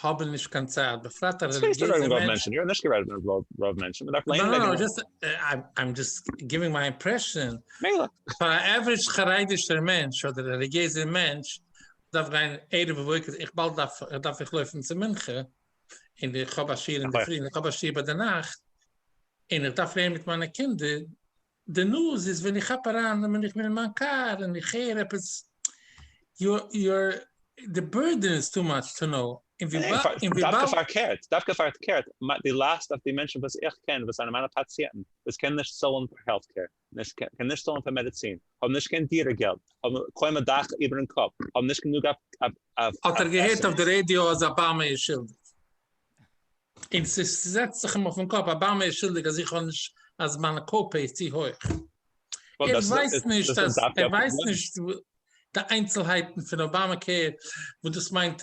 D: האבן נישט קיין צייט, בפרט א רעליגיעזע מענטש.
E: איך האב נישט גערעדט אויף רוב מענטשן, מען דארף לערנען וועגן
D: רוב. איים דזשאסט גיווינג מיי אימפרעשאן, פאר א עוורידזש חרדישער מענטש אדער רעליגיעזער מענטש דארף גיין ערב ובוקר, איך באלד דארף איך לויפן צו מנחה, און איך האב א שיעור אינדערפרי און איך האב א שיעור ביינאכט, און איך דארף לערנען מיט מיינע קינדער, די נאז איז ווען איך כאפ אריין ווען איך בין אין מיין קאר און איך הער עפעס יאר די בורדען איז טו מאטש טו נאו און וויבאלד.
E: דווקא פארקערט די לאסט אויף די מענטשן וואס איך קען וואס זענען מיינע פאציענטן וואס קענען נישט צאלן פאר העלט קעיר קענען נישט צאלן פאר מעדעצין האבן נישט קיין דירה געלט האבן קוים א דאך איבערן קאפ האבן נישט גענוג אויף עסן. האט ער
D: געהערט אויף די רעדיא אז אבאמא איז שולדיג? און ס'זעצט זיך אים אויפן קאפ, אבאמא איז שולדיג אז איך האב נישט, אז מיין קאו-פעי איז צו הויך. ער ווייסט נישט אז, ער ווייסט נישט די איינצלהייטן פון אבאמא קעיר, וואס דאס מיינט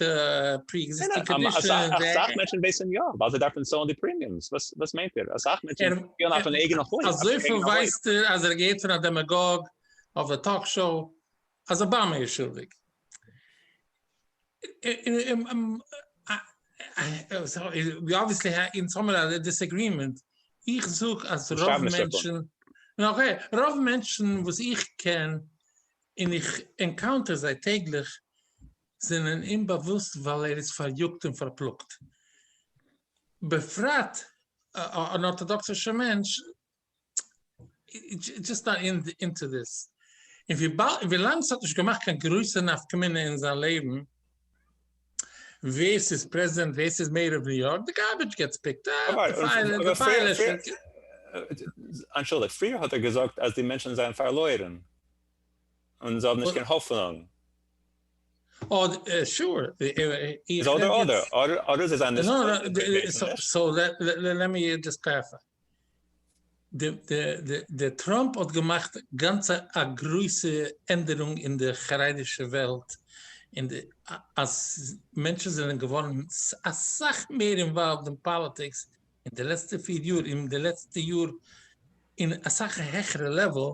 D: פרי-עקזיסטינג קאנדישאנס. אסאך מענטשן
E: ווייסן יא, ווייל זיי דארפן צאלן די פרימיומס. וואס מיינט איר? אסאך מענטשן פירן אויפן אייגענע הויט. אזויפיל
D: ווייסט
E: ער
D: אז ער האט געהערט פון א דעמעגאג אויף די טאלק שאו אז אבאמא איז שולדיג. ווי אבוויעסלי אין סאמער א דיסעגרימענט, איך זאג אז רוב מענטשן, רוב מענטשן וואס איך קען און איך ענקאונטער זיי טעגליך זענען אומבאוואוסט ווייל ער איז פאריאגט און פארפלאגט, בפרט אן ארטאדאקסישע מענטש דזשאסט א ענד אונטו דיס. און ווילאנג ס'האט נישט געמאכט קיין גרויסע נפקא מינה אין זיין לעבן ווער ס'איז פרעזידענט ווער ס'איז מעיאר אוו ניו יארק, די גארבידזש געטס פיקט אפ.
E: אנטשולדיגט, פריער האט ער געזאגט אז די מענטשן זענען פארלוירן און זיי האבן נישט קיין האפענונג.
D: שור. איז אדער אדער.
E: אדער זיי זענען נישט.
D: סאו לעט מי דזשאסט קלעריפיי. די טראמפ האט געמאכט גאנץ א גרויסע ענדערונג אין די חרדישע וועלט אין די אז מענטשן זענען געווארן אסאך מער אינוואלווד אין פאליטיקס אין די לעצטע פיר יאר אין די לעצטע יאר אין אסאך העכערע לעוועל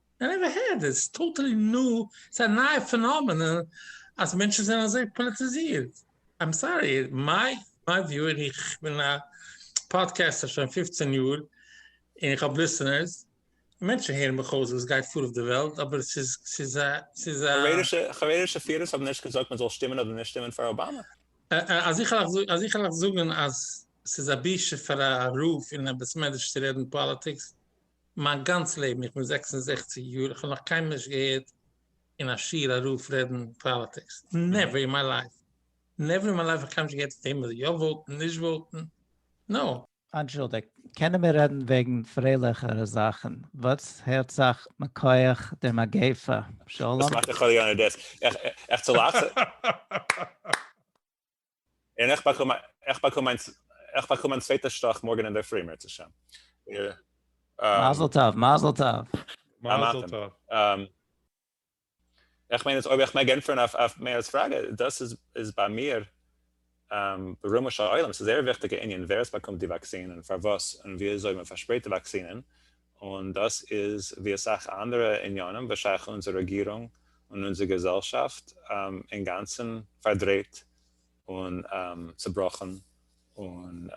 D: איי נעווער הערד איטס טאטעלי ניו, ס'איז א נייע פענאמענען אז מענטשן זענען אזוי פאליטיזירט, איים סארי מיי וויו און איך בין א פאדקעסטער שוין פופצען יאר און איך האב ליסענערס און מענטשן הערן מיך אויס וואס גייט פאר אויף די וועלט אבער ס'איז ס'איז א ס'איז א.
E: חרדישע פירערס
D: האבן נישט געזאגט מ'זאל שטימען אדער נישט שטימען פאר אבאמא. אז איך וועל אייך זאגען אז ס'איז א בושה פאר א רב אין א בית מדרש צו רעדן פאליטיקס. מיין גאנץ לעבן, איך בין זעקס און זעכציג יאר, איך האב נאך קיינמאל נישט געהערט אין א שיעור א רב רעדן פאליטיקס, נעווער אין מיי לייף, נעווער אין מיי לייף האב איך קיינמאל נישט געהערט וועמען זאל יא וואוטן, נישט וואוטן, נאו. אנטשולדיגט,
A: קענען מיר רעדן וועגן פרייליכערע זאכן, וואס הערט זיך מכח דער מגיפה? שלום. וואס מאכט די חוליגאנער
E: דעסק? עכט צו לאכט? און איך באקום איך באקום מיין איך באקום מיין צווייטע שטאך מארגן אינדערפרי מערצעשעם. מזל
A: טוב מזל טוב. מזל טוב.
E: איך מיין אז אויב איך מעג ענטפערן אויף אויף מאיר'ס פראגע, דאס איז איז ביי מיר ברומו של עולם, ס'איז זייער וויכטיגע ענין ווער עס באקומט די וואקסין און פארוואס און וויאזוי מ'פארשפרייט די וואקסינען, און דאס איז ווי אסאך אנדערע עניינים וואס שייך אונזער רעגירונג און אונזער געזעלשאפט אינגאנצן פארדרייט און צובראכן און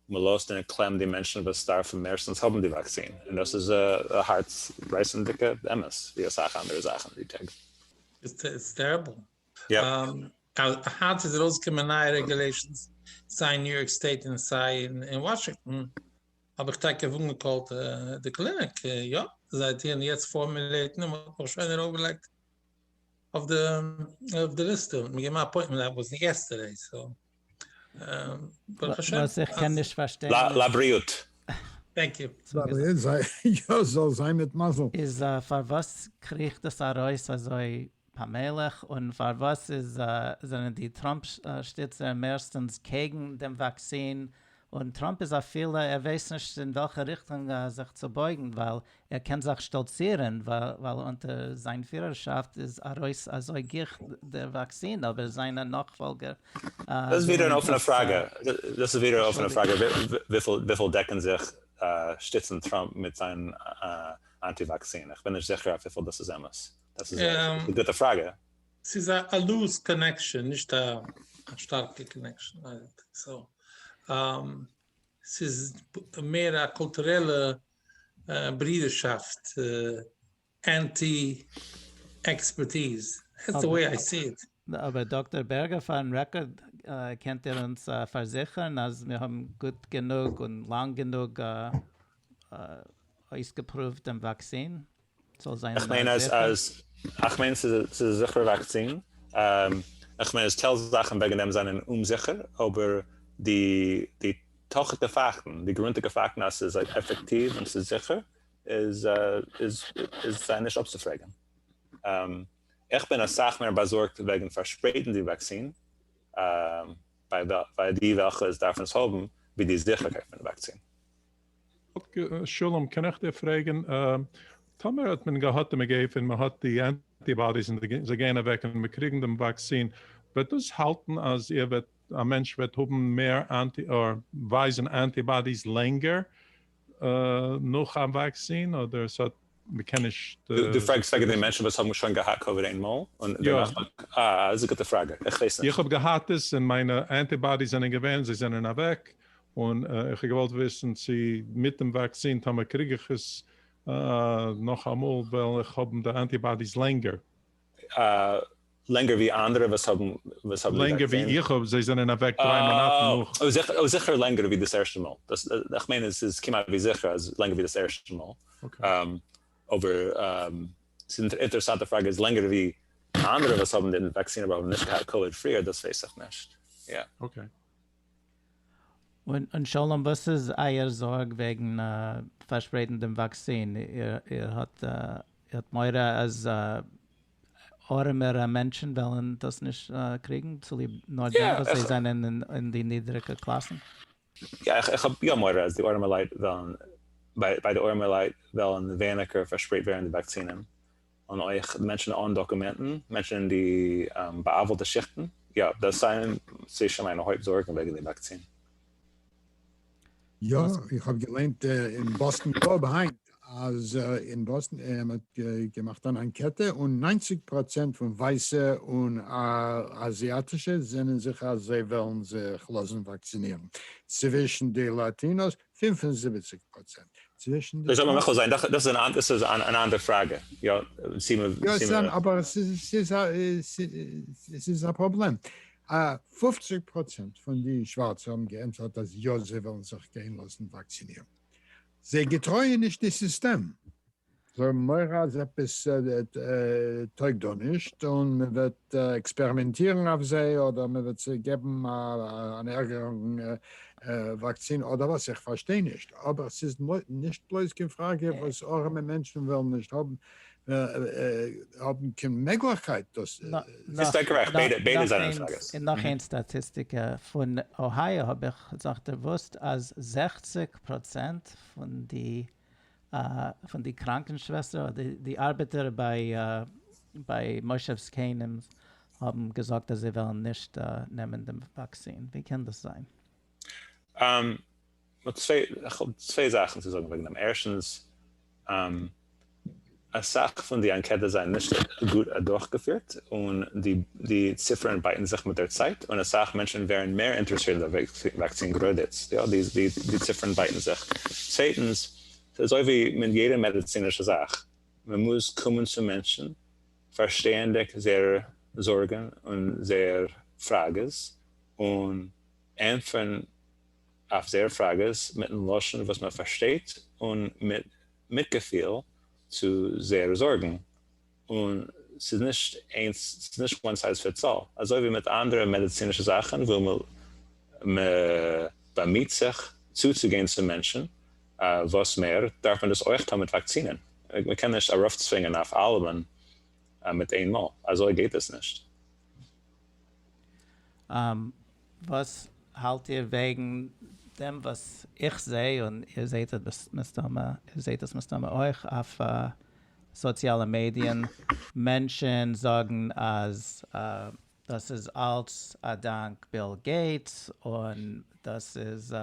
E: מ'לאזט אין קלעם די מענטשן וואס דארפן מערסטנס האבן די וואקסין און דאס איז א הארץ רייסנדיגע אמת ווי אסאך אנדערע זאכן די טעג. איטס
D: טעריבל.
E: היינט
D: איז ארויסגעקומען נייע רעגולעישאנס סיי אין ניו יארק סטעיט און סיי אין וואשינגטאן, האב איך טאקע אנגעקאלט די קליניק, יאפ, זיי טוען יעצט פארמולעיטן און מ'האט מיך שוין ארויפגעלייגט אויף די ליסטע, מ'האט געבן א אפוינטמענט עפעס יעסטערדעי. ברוך השם.
A: וואס איך קען נישט פארשטיין איז. לבריאות.
E: טענק
D: יו.
B: לבריאות זיי, יא זאל זיין מיט מזל. איז פארוואס
A: קריכט דאס ארויס אזוי פאמעליך און פארוואס איז זענען די טראמפ שטיצער מערסטענס קעגן דעם וואקסין און טראמפ איז אפילו ער ווייסט נישט אין וועלכע ריכטונג זיך צו בויגן ווייל ער קען זיך שטאלצירען ווייל אונטער זיין פירערשאפט איז ארויס אזוי גיך דער וואקסין אבער זיינע נאכפאלגער
E: ווילען דאס
D: נישט. ברידערשאפט אנטי עקספערטיז, דעטס די וועי איי סי איט. אבער דאקטאר
A: בערגער פארן רעקארד קענט איר אונז פארזיכערן אז מיר האבן גוט גענוג און לאנג גענוג אויסגעפרואווט דעם וואקסין? איך
E: מיין אז אז איך מיין ס'איז א ס'איז א זיכערע וואקסין, איך מיין אז טייל זאכן וועגן דעם זענען אומזיכער, אבער די די תוכית'ע פאקטן, די גרונטיגע פאקטן אז ס'איז עפעקטיוו און ס'איז זיכער איז איז איז זיי נישט אפצופרעגן. איך בין אסאך מער באזארגט וועגן פארשפרייטן די וואקסין ביי ביי די וועלכע עס דארפן עס האבן, ווי די זיכערקייט פון די וואקסין. שלום,
C: קען איך דיר פרעגן, טאמער האט מען געהאט די מגיפה און מען האט די אנטי באדיס און זיי גייען אוועק און מיר קריגן דעם וואקסין, וועט דאס האלטן אז איר וועט, א מענטש וועט האבן מער אנטי, אדער ווייזן אנטי באדיס לענגער נאך א וואקסין, אדער עס האט מ'קען נישט. דו פרעגסט וועגן
E: די מענטשן וואס האבן שוין געהאט קאוויד איינמאל און דערנאך באקומען? אה, איז א גוטע פראגע, איך ווייס נישט. איך האב געהאט עס און מיינע
C: אנטי באדיס זענען געווען, זיי זענען אוועק, און איך האב געוואלט וויסן צו מיט דעם וואקסין טאמער קריג איך עס נאכאמאל וועל איך האבן די אנטי באדיס לענגער.
E: לענגער ווי אנדערע וואס האבן וואס האבן די לענגער ווי וואקסין?
C: איך האב, זיי זענען אוועק דריי מאנאטן נאך. אה, זיכער אוי זיכער לענגער ווי
E: דאס ערשטע מאל, דאס איך מיין עס איז כמעט ווי זיכער אז לענגער ווי דאס ערשטע מאל, אבער ס'איז אינ אינטערעסאנט די פראגע איז לענגער ווי אנדערע וואס האבן די וואקסין אבער האבן נישט געהאט קאוויד פריער דאס ווייס איך נישט, יא. אקעי.
A: און שלום וואס איז אייער זארג וועגן פארשפרייטן דעם וואקסין? איר האט מורא אז ארעמערע מענטשן וועלן דאס נישט קריגן צוליב נאר דעם וואס זיי זענען אין די נידריגע קלאסן? יא,
E: איך האב יא מורא אז די ארעמעלייט וועלן, ביי די ארעמעלייט וועלן ווייניגער פארשפרייט ווערן די וואקסינען. און אויך מענטשן אן דאקומענטן, מענטשן אין די בא'עוול'טע שיכטן, יא, דאס זענען צווישן מיינע הויפט זארגן וועגן די וואקסין.
B: יא, איך האב געליינט אין באסטן גלאוב היינט אז אין באסטן, מען האט געמאכט אן אנקעטע און נײַנציק פראצענט פון ווייסע און אזיאטישע זענען זיכער אז זיי וועלן זיך לאזן וואקסינירן, צווישן די לאטינאס פֿינף און זיבעציק פראצענט צווישן די טראמפ. דאס זאל מען
E: מוחל זיין, דאס איז אן אנדער פראגע. יא, צי מ. יא, עס זענען,
B: אבער עס איז א פראבלעם. פֿופֿציק פראצענט פון די שווארצע האבן געענטפערט אז יא זיי וועלן זיך גיין לאזן וואקסינירן. זיי געטרויען נישט די סיסטעם. זיי האבן מורא אז עפעס טויג דא נישט און מען וועט עקספערימענטירן אויף זיי אדער מען וועט זיי געבן אן ערגערן וואקסין אדער וואס, איך פארשטיי נישט, אבער ס'איז נישט בלויז קיין פראגע וואס ארעמע מענטשן וועלן נישט האבן קיין מעגליכקייט דאס. ביסט גערעכט, ביידע זענען
E: פראגעס. און נאך איין סטאטיסטיקע
A: פון אוהייאו האב איך זיך דערוואוסט אז זעכציק פראצענט פון די פון די קראנקן שוועסטער אדער די ארבעטער ביי מושב זקנים האבן געזאגט אז זיי וועלן נישט נעמען דעם וואקסין, ווי קען דאס זיין? איך
E: האב צוויי זאכן צו זאגן וועגן דעם, ערשטנס אסאך פון די אנקעטעס זענען נישט גוט אדורכגעפירט און די ציפערן בייטן זיך מיט דער צייט און אסאך מענטשן ווערן מער אינטערעסירט אין די וואקסין גראדע איצט, יא די ציפערן בייטן זיך. צווייטנס, ס'איז אזוי ווי מיט יעדע מעדיצינישע זאך, מען מוז קומען צו מענטשן, פארשטייענדיג זייער זארגן און זייער פראגעס, און ענטפערן אויף זייער פראגעס מיטן לשון וואס מען פארשטייט און מיט מיטגעפיל צו זייערע זארגן, און ס'איז נישט איינס ס'איז נישט וואן סייז פיטס אלל, אזוי ווי מיט אנדערע מעדיצינישע זאכן וואו מ' באמיהט זיך צוצוגיין צו מענטשן וואס מער, דארף מען דאס אויך טון מיט וואקסינען, מ' קען נישט ארויפצווינגען אויף אלעמען מיט איין מאל, אזוי גייט עס נישט.
A: וואס האלט איר וועגן דעם וואס איך זעה, און איר זעהט עס מסתמא, איר זעהט עס מסתמא אויך אויף סאציאלע מעדיען, מענטשען זאגן אז דאס איז אלץ אדאנק ביל געיטס, און דאס איז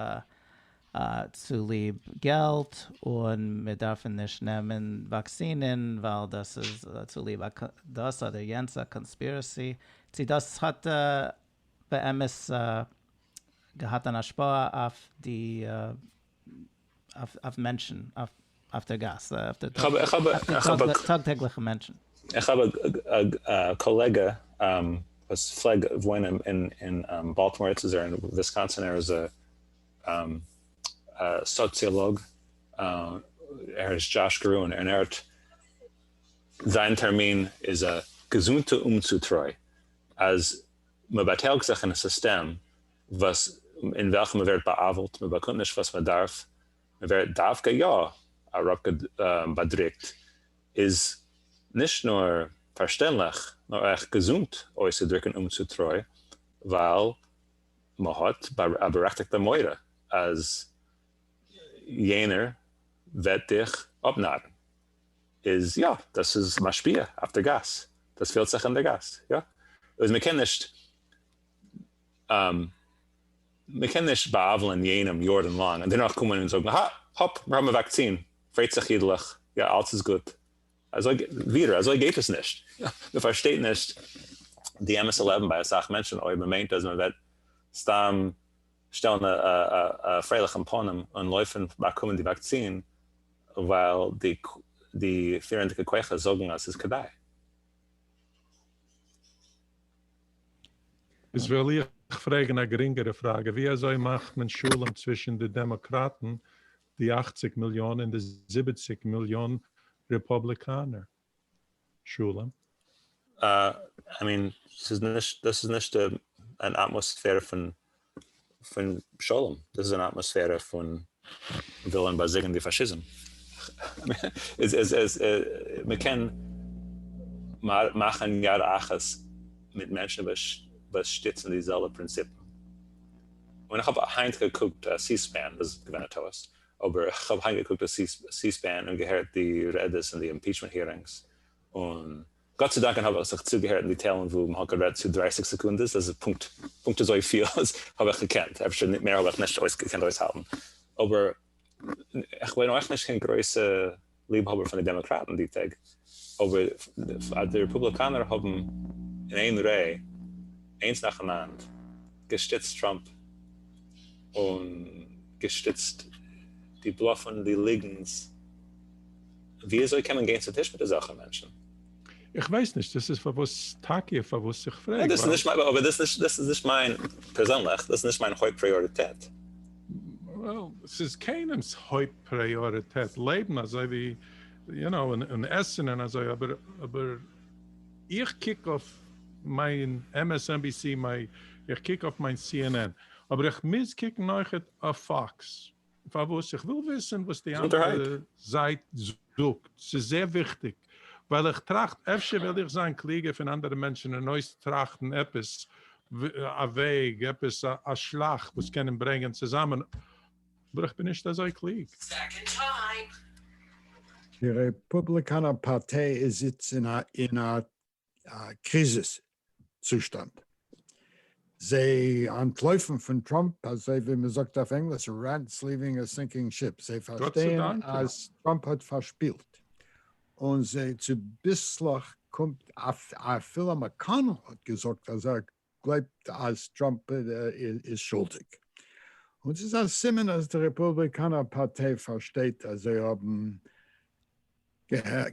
A: צוליב געלט און מיר דארפן נישט נעמען וואקסינען ווייל דאס איז צוליב א דאס אדער יענץ א קאנספירעסי, צו דאס האט באמת געהאט אן השפעה אויף די אויף מענטשן אויף דער גאס אויף די טאג טעגליכע מענטשן. איך האב
E: א קאלעגע וואס פלעג וואוינען אין באלטימאר, יעצט איז ער אין וויסקאנסין, ער איז א. א סאציאלאג ער הייסט דזשאש גראון און ער האט זיין טערמין איז א געזונטע אומצוטרוי אז מען באטייליגט זיך אין א סיסטעם וואס אין וועלכע מען ווערט בא'עוול'ט מען באקומט נישט וואס מען דארף מען ווערט דווקא יא אראפ באדריקט איז נישט נאר פארשטענדליך נאר אויך געזונט אויסצודריקן אומצוטרוי ווייל מ'האט בארעכטיגט א מורא אז יענער וועט דיך אפנארן, איז יא, דאס איז משפיע אויף די גאס, דאס פילט זיך אין די גאס, יא, איז מ'קען נישט מ'קען נישט בא'עוול'ען יענעם יארן לאנג און דערנאך קומען און זאגן, הא, האפ, מיר האבן א וואקצין, פרעט זיך אידלעך, יא, אלץ איז גוט. אזוי ווידער אזוי גייט עס נישט, מען פארשטייט נישט די אמת'ע לעבן ביי אסאך מענטשן אויב מען מיינט אז מען וועט סתם שטעלן א פרייליכן פנים און לויפן באקומען די וואקסין ווייל די פירנדיגע כוחות זאגן אז ס'איז כדאי.
C: איז וויל איך פרעגן א גרינגערע פראגע, ווי אזוי מאכט מען שלום צווישן די דעמאקראטן די אַכציק מיליאן און די זיבעציק מיליאן רעפאבליקאנער. שלום.
E: איי מין ס'איז נישט דאס איז נישט אן אטמאספערע פון פון שלום דאס איז אן אטמאספערע פון ווילען באזיגען די פאשיזם מ'קען מאכען יד אחת מיט מענטשען וואס שטיצען די זעלבע פרינציפען. און איך האב היינט געקוקט סי-ספען, וואס איז געווען א טעות, אבער איך האב היינט געקוקט סי-ספען און געהערט די רעדעס אין די אימפיטשמענט הירינגס, און גאט צו דאנקען האב איך זיך צוגעהערט אין די טיילן וואו מ'האט גערעדט צו דרייסיג סעקונדעס, דאס איז פונקט פונקט אזויפיל האב איך געקענט, אפשר מער האב איך נישט געקענט אויסהאלטן, אבער איך בין אויך נישט קיין גרויסע ליבהאבער פון די דעמאקראטן די טעג, אבער אז די רעפובליקאנער האבן אין איין ר' איינס נאכאנאנד געשטיצט טראמפ און געשטיצט די בלאף און די ליגנס, וויאזוי קען מען גיין צו טיש מיט אזעלכע מענטשן? איך ווייס
C: נישט, דאס איז פארוואס טאקע פארוואס איך פרעג, ווייל. דאס איז נישט, אבער דאס איז נישט,
E: דאס איז נישט מיין, פערזענליך, דאס איז נישט מיין הויפט פריאריטעט. וועל,
C: ס'איז קיינעמ'ס הויפט פריאריטעט לעבן אזוי ווי, יו נאו, און עסן און אזוי, אבער, אבער איך קוק אויף מיין MSNBC, איך קוק אויף מיין cnn, אבער איך מוז קוקן אויכעט אויף פאקס. פארוואס? איך וויל וויסען וואס די אנדערע זייט זאגט, ס'איז זייער וויכטיג, ווייל איך טראכט אפשר וועל איך זיין קלוגער פון אנדערע מענטשען און אויס טראכטען עפעס א וועג, עפעס א שלאך וואס קען אים ברענגען צוזאמען, אבער איך בין נישט אזוי קלוג. די רעפובליקאנער פארטיי איז איצט
B: אין א א קריזיס צושטאנד. זיי אנטלויפן פון טראמפ אזוי ווי מען זאגט אויף ענגליש Rats leaving a sinking ship, זיי פארשטייען אז טראמפ האט פארשפילט און זיי צוביסלעך קומט אפילו מקאנעל האט געזאגט אז ער גלייבט אז טראמפ איז שולדיג, און ס'איז א סימן אז די רעפובליקאנער פארטיי פארשטייט אז זיי האבן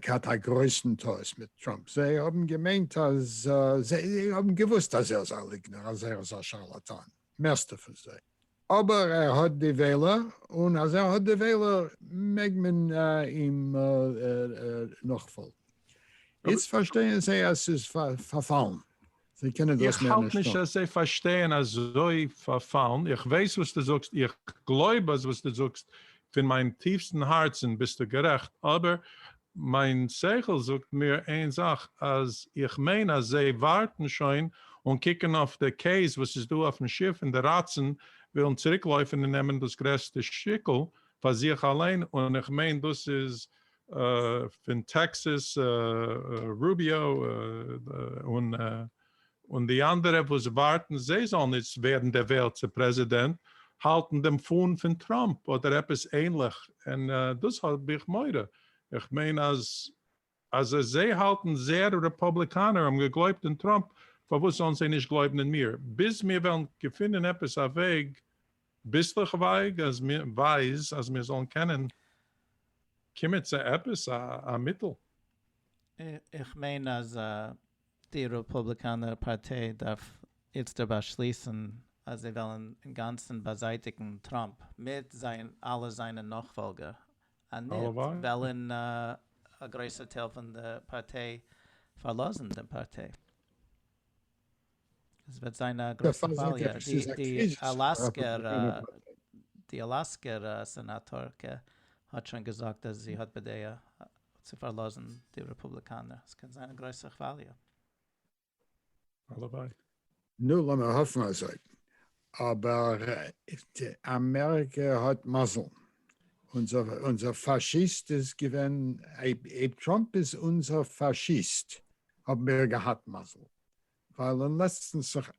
B: געהאט א גרויסן טעות מיט טראמפ, זיי האבן געמיינט אז, זיי האבן געוואוסט אז ער איז א ליגנער, אז ער איז א שארלאטאן, מערסטע פון זיי. אבער ער האט די וועלער, און אז ער האט די וועלער מעג מען אים נאכפאלגן. איצט פארשטייען זיי אז ס'איז פארפאלן, זיי קענען דאס מער נישט טון. איך האלט נישט אז זיי
C: פארשטייען אזוי פארפאלן, איך ווייס וואס דו זאגסט, איך גלויב אז וואס דו זאגסט פון מיין טיפסטן הארצן ביסטו גערעכט, אבער מיין שכל זאגט מיר איין זאך אז איך מיין אז זיי ווארטן שוין און קוקן אויף די קעיס וואס איז דא אויפן שיף און די ראצן ווילן צוריק לויפן און נעמען דאס גרעסטע שטיקל פאר זיך אליין און איך מיין דאס איז פון טעקסעס רוביאו און און די אנדערע וואס ווארטן זיי זאלן איצט ווערן דערוועלט צו פרעזידענט האלטן דעם פאן פון טראמפ אדער עפעס ענליך און דאס האב איך מורא איך מיין אז אז זיי האלטן זייער רעפאבליקאנער האבן געגלויבט אין טראמפ פארוואס זאלן זיי נישט גלויבן אין מיר ביז מיר וועלן געפינען עפעס א וועג ביסלעך ווייג אז מיר ווייז אז מיר זאלן קענען קומען צו עפעס א מיטל. איך
A: מיין אז די רעפובליקאנער פארטיי דארף איצטער באשליסן אז זיי וועלן אינגאנצן באזייטיגן טראמפ מיט זיין אלע זיינע נאכפאלגער, אניט וועלן א גרויסער טייל פון די פארטיי פארלאזן דעם פארטיי. עס וועט זיין א גרויסע כוואליע. די אלאסקער
B: די
A: אלאסקער סענאטארקע האט שוין געזאגט אז זי האט בדעה צו פארלאזן די רעפובליקאנער, עס קען זיין א גרויסע כוואליע. הלוואי.
C: נו לאמיר
B: האפן אזוי. אבער אמעריקע האט מזל. אונזער פאשיסט איז געווען, אויב טראמפ איז אונזער פאשיסט האבן מיר געהאט מזל. ווייל און לעצטנס זיך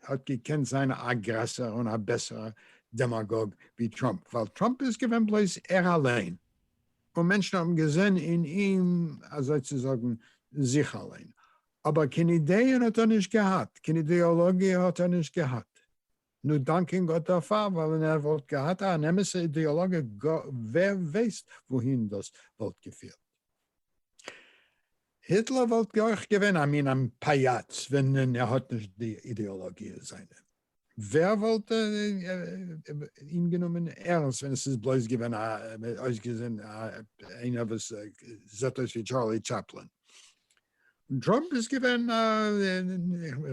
B: האט געקענט זיין א גרעסערע און א בעסערע דעמאגאג ווי טראמפ ווייל טראמפ איז געווען בלויז ער אליין און מענטשן האבן געזען אין אים אזוי צו זאגן זיך אליין אבער קיין אידעען האט ער נישט געהאט קיין אידעאלאגיע האט ער נישט געהאט. נו דאנקען גאט דערפאר, ווייל ווען ער וואלט געהאט אן אמת'ע אידעאלאגע ווער ווייסט וואוהין דאס וואלט געפירט. היטלער וואלט אויך געווען א מין עם פייאץ ווען ער האט נישט די אידעאלאגיע זיינע, ווער וואלט אים גענומען ערנסט ווען עס איז בלויז געווען אויסגעזען איינער וואס זעט אויס ווי טשארלי טשאפלין. און טראמפ איז געווען א,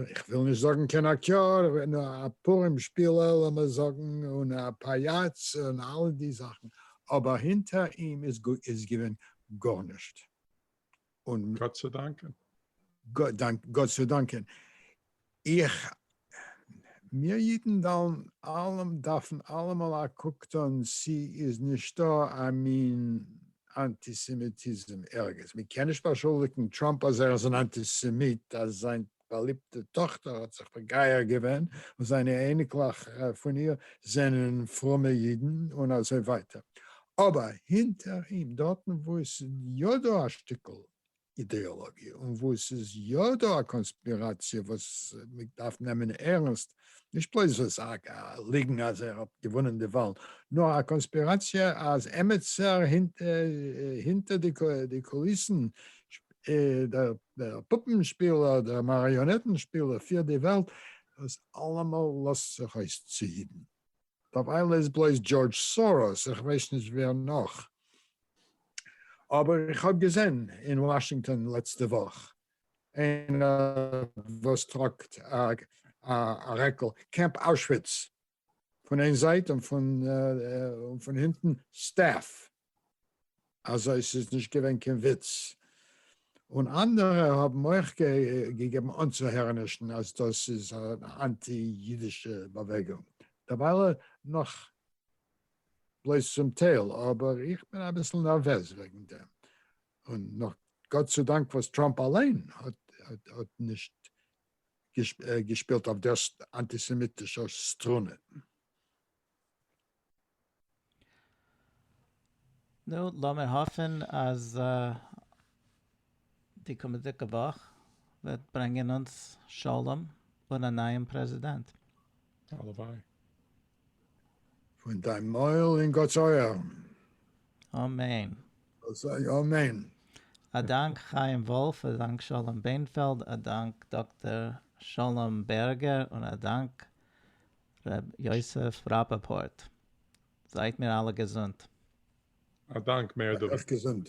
B: איך וויל נישט זאגן קיין אקטיאר, נאר א פורים שפילער לאמיר זאגן, און א פאיאץ און אלע די זאכן, אבער הינטער אים איז געווען גארנישט. און. גאט צו דאנקען. גאט צו דאנקען. איך, מיר אידן וועלן אלעמ, דארפן אלעמאל א קוק טון צי איז נישטא א מין אנטיסעמיטיזם ערגעץ. מען קען נישט באשולדיגן טראמפ אז ער איז אן אנטיסעמיט אז זיין באליבטע טאכטער האט זיך מגייר געווען און זיינע אייניקלעך פון איר זענען פרומע אידן און אזוי ווייטער. אבער הינטער אים, דארטן וואו עס איז יא דא א שטיקל אידעאלאגיע, און וואו עס איז יא דא א קאנספיראציע וואס מען דארף נעמען ערנסט, נישט בלויז וואס א ליגן אז ער האט געוואונען די וואלן, נאר א קאנספיראציע אז עמעצער הינטער די קוליסן, דער פופנשפילער, דער מאריאנעטן שפילער פירט די וועלט, דאס אלעמאל לאזט זיך אויס צו היטן. דארף איינער איז בלויז דזשארדזש סאראס איך ווייס נישט ווער נאך אבער איך האב געזען אין וואשינגטאן לעצטע וואך איינער וואס טראגט א רעקל קעמפ אוישוויץ פון איין זייט און פון הינטן סטעף אזוי ס'איז נישט געווען קיין וויץ, און אנדערע האבן אויך געגעבן אנצוהערענישן אז דאס איז אן אנטי אידישע באוועגונג, דערווייל נאך בלויז צום טייל, אבער איך בין אביסל נערוועז וועגן דעם, און נאך גאט צו דאנק וואס טראמפ אליין האט נישט געשפילט אויף דער אנטיסעמיטישער סטרונע.
A: נו, לאמיר האפן אז די קומענדיגע וואך וועט ברענגען אונז שלום און א נייעם פרעזידענט. הלוואי.
C: פון
B: דיין מויל אין גאט'ס אויערן.
A: אמן. זאל זיין
B: אמן. א
A: דאנק חיים וואלף, א דאנק שלום בענפעלד, א דאנק דאקטער שלום בערגער, און א דאנק ר' יוסף ראפאפארט
C: זייט
A: מיר אלע
C: געזונט. א
A: דאנק מער
C: דוד. אויף
A: געזונט.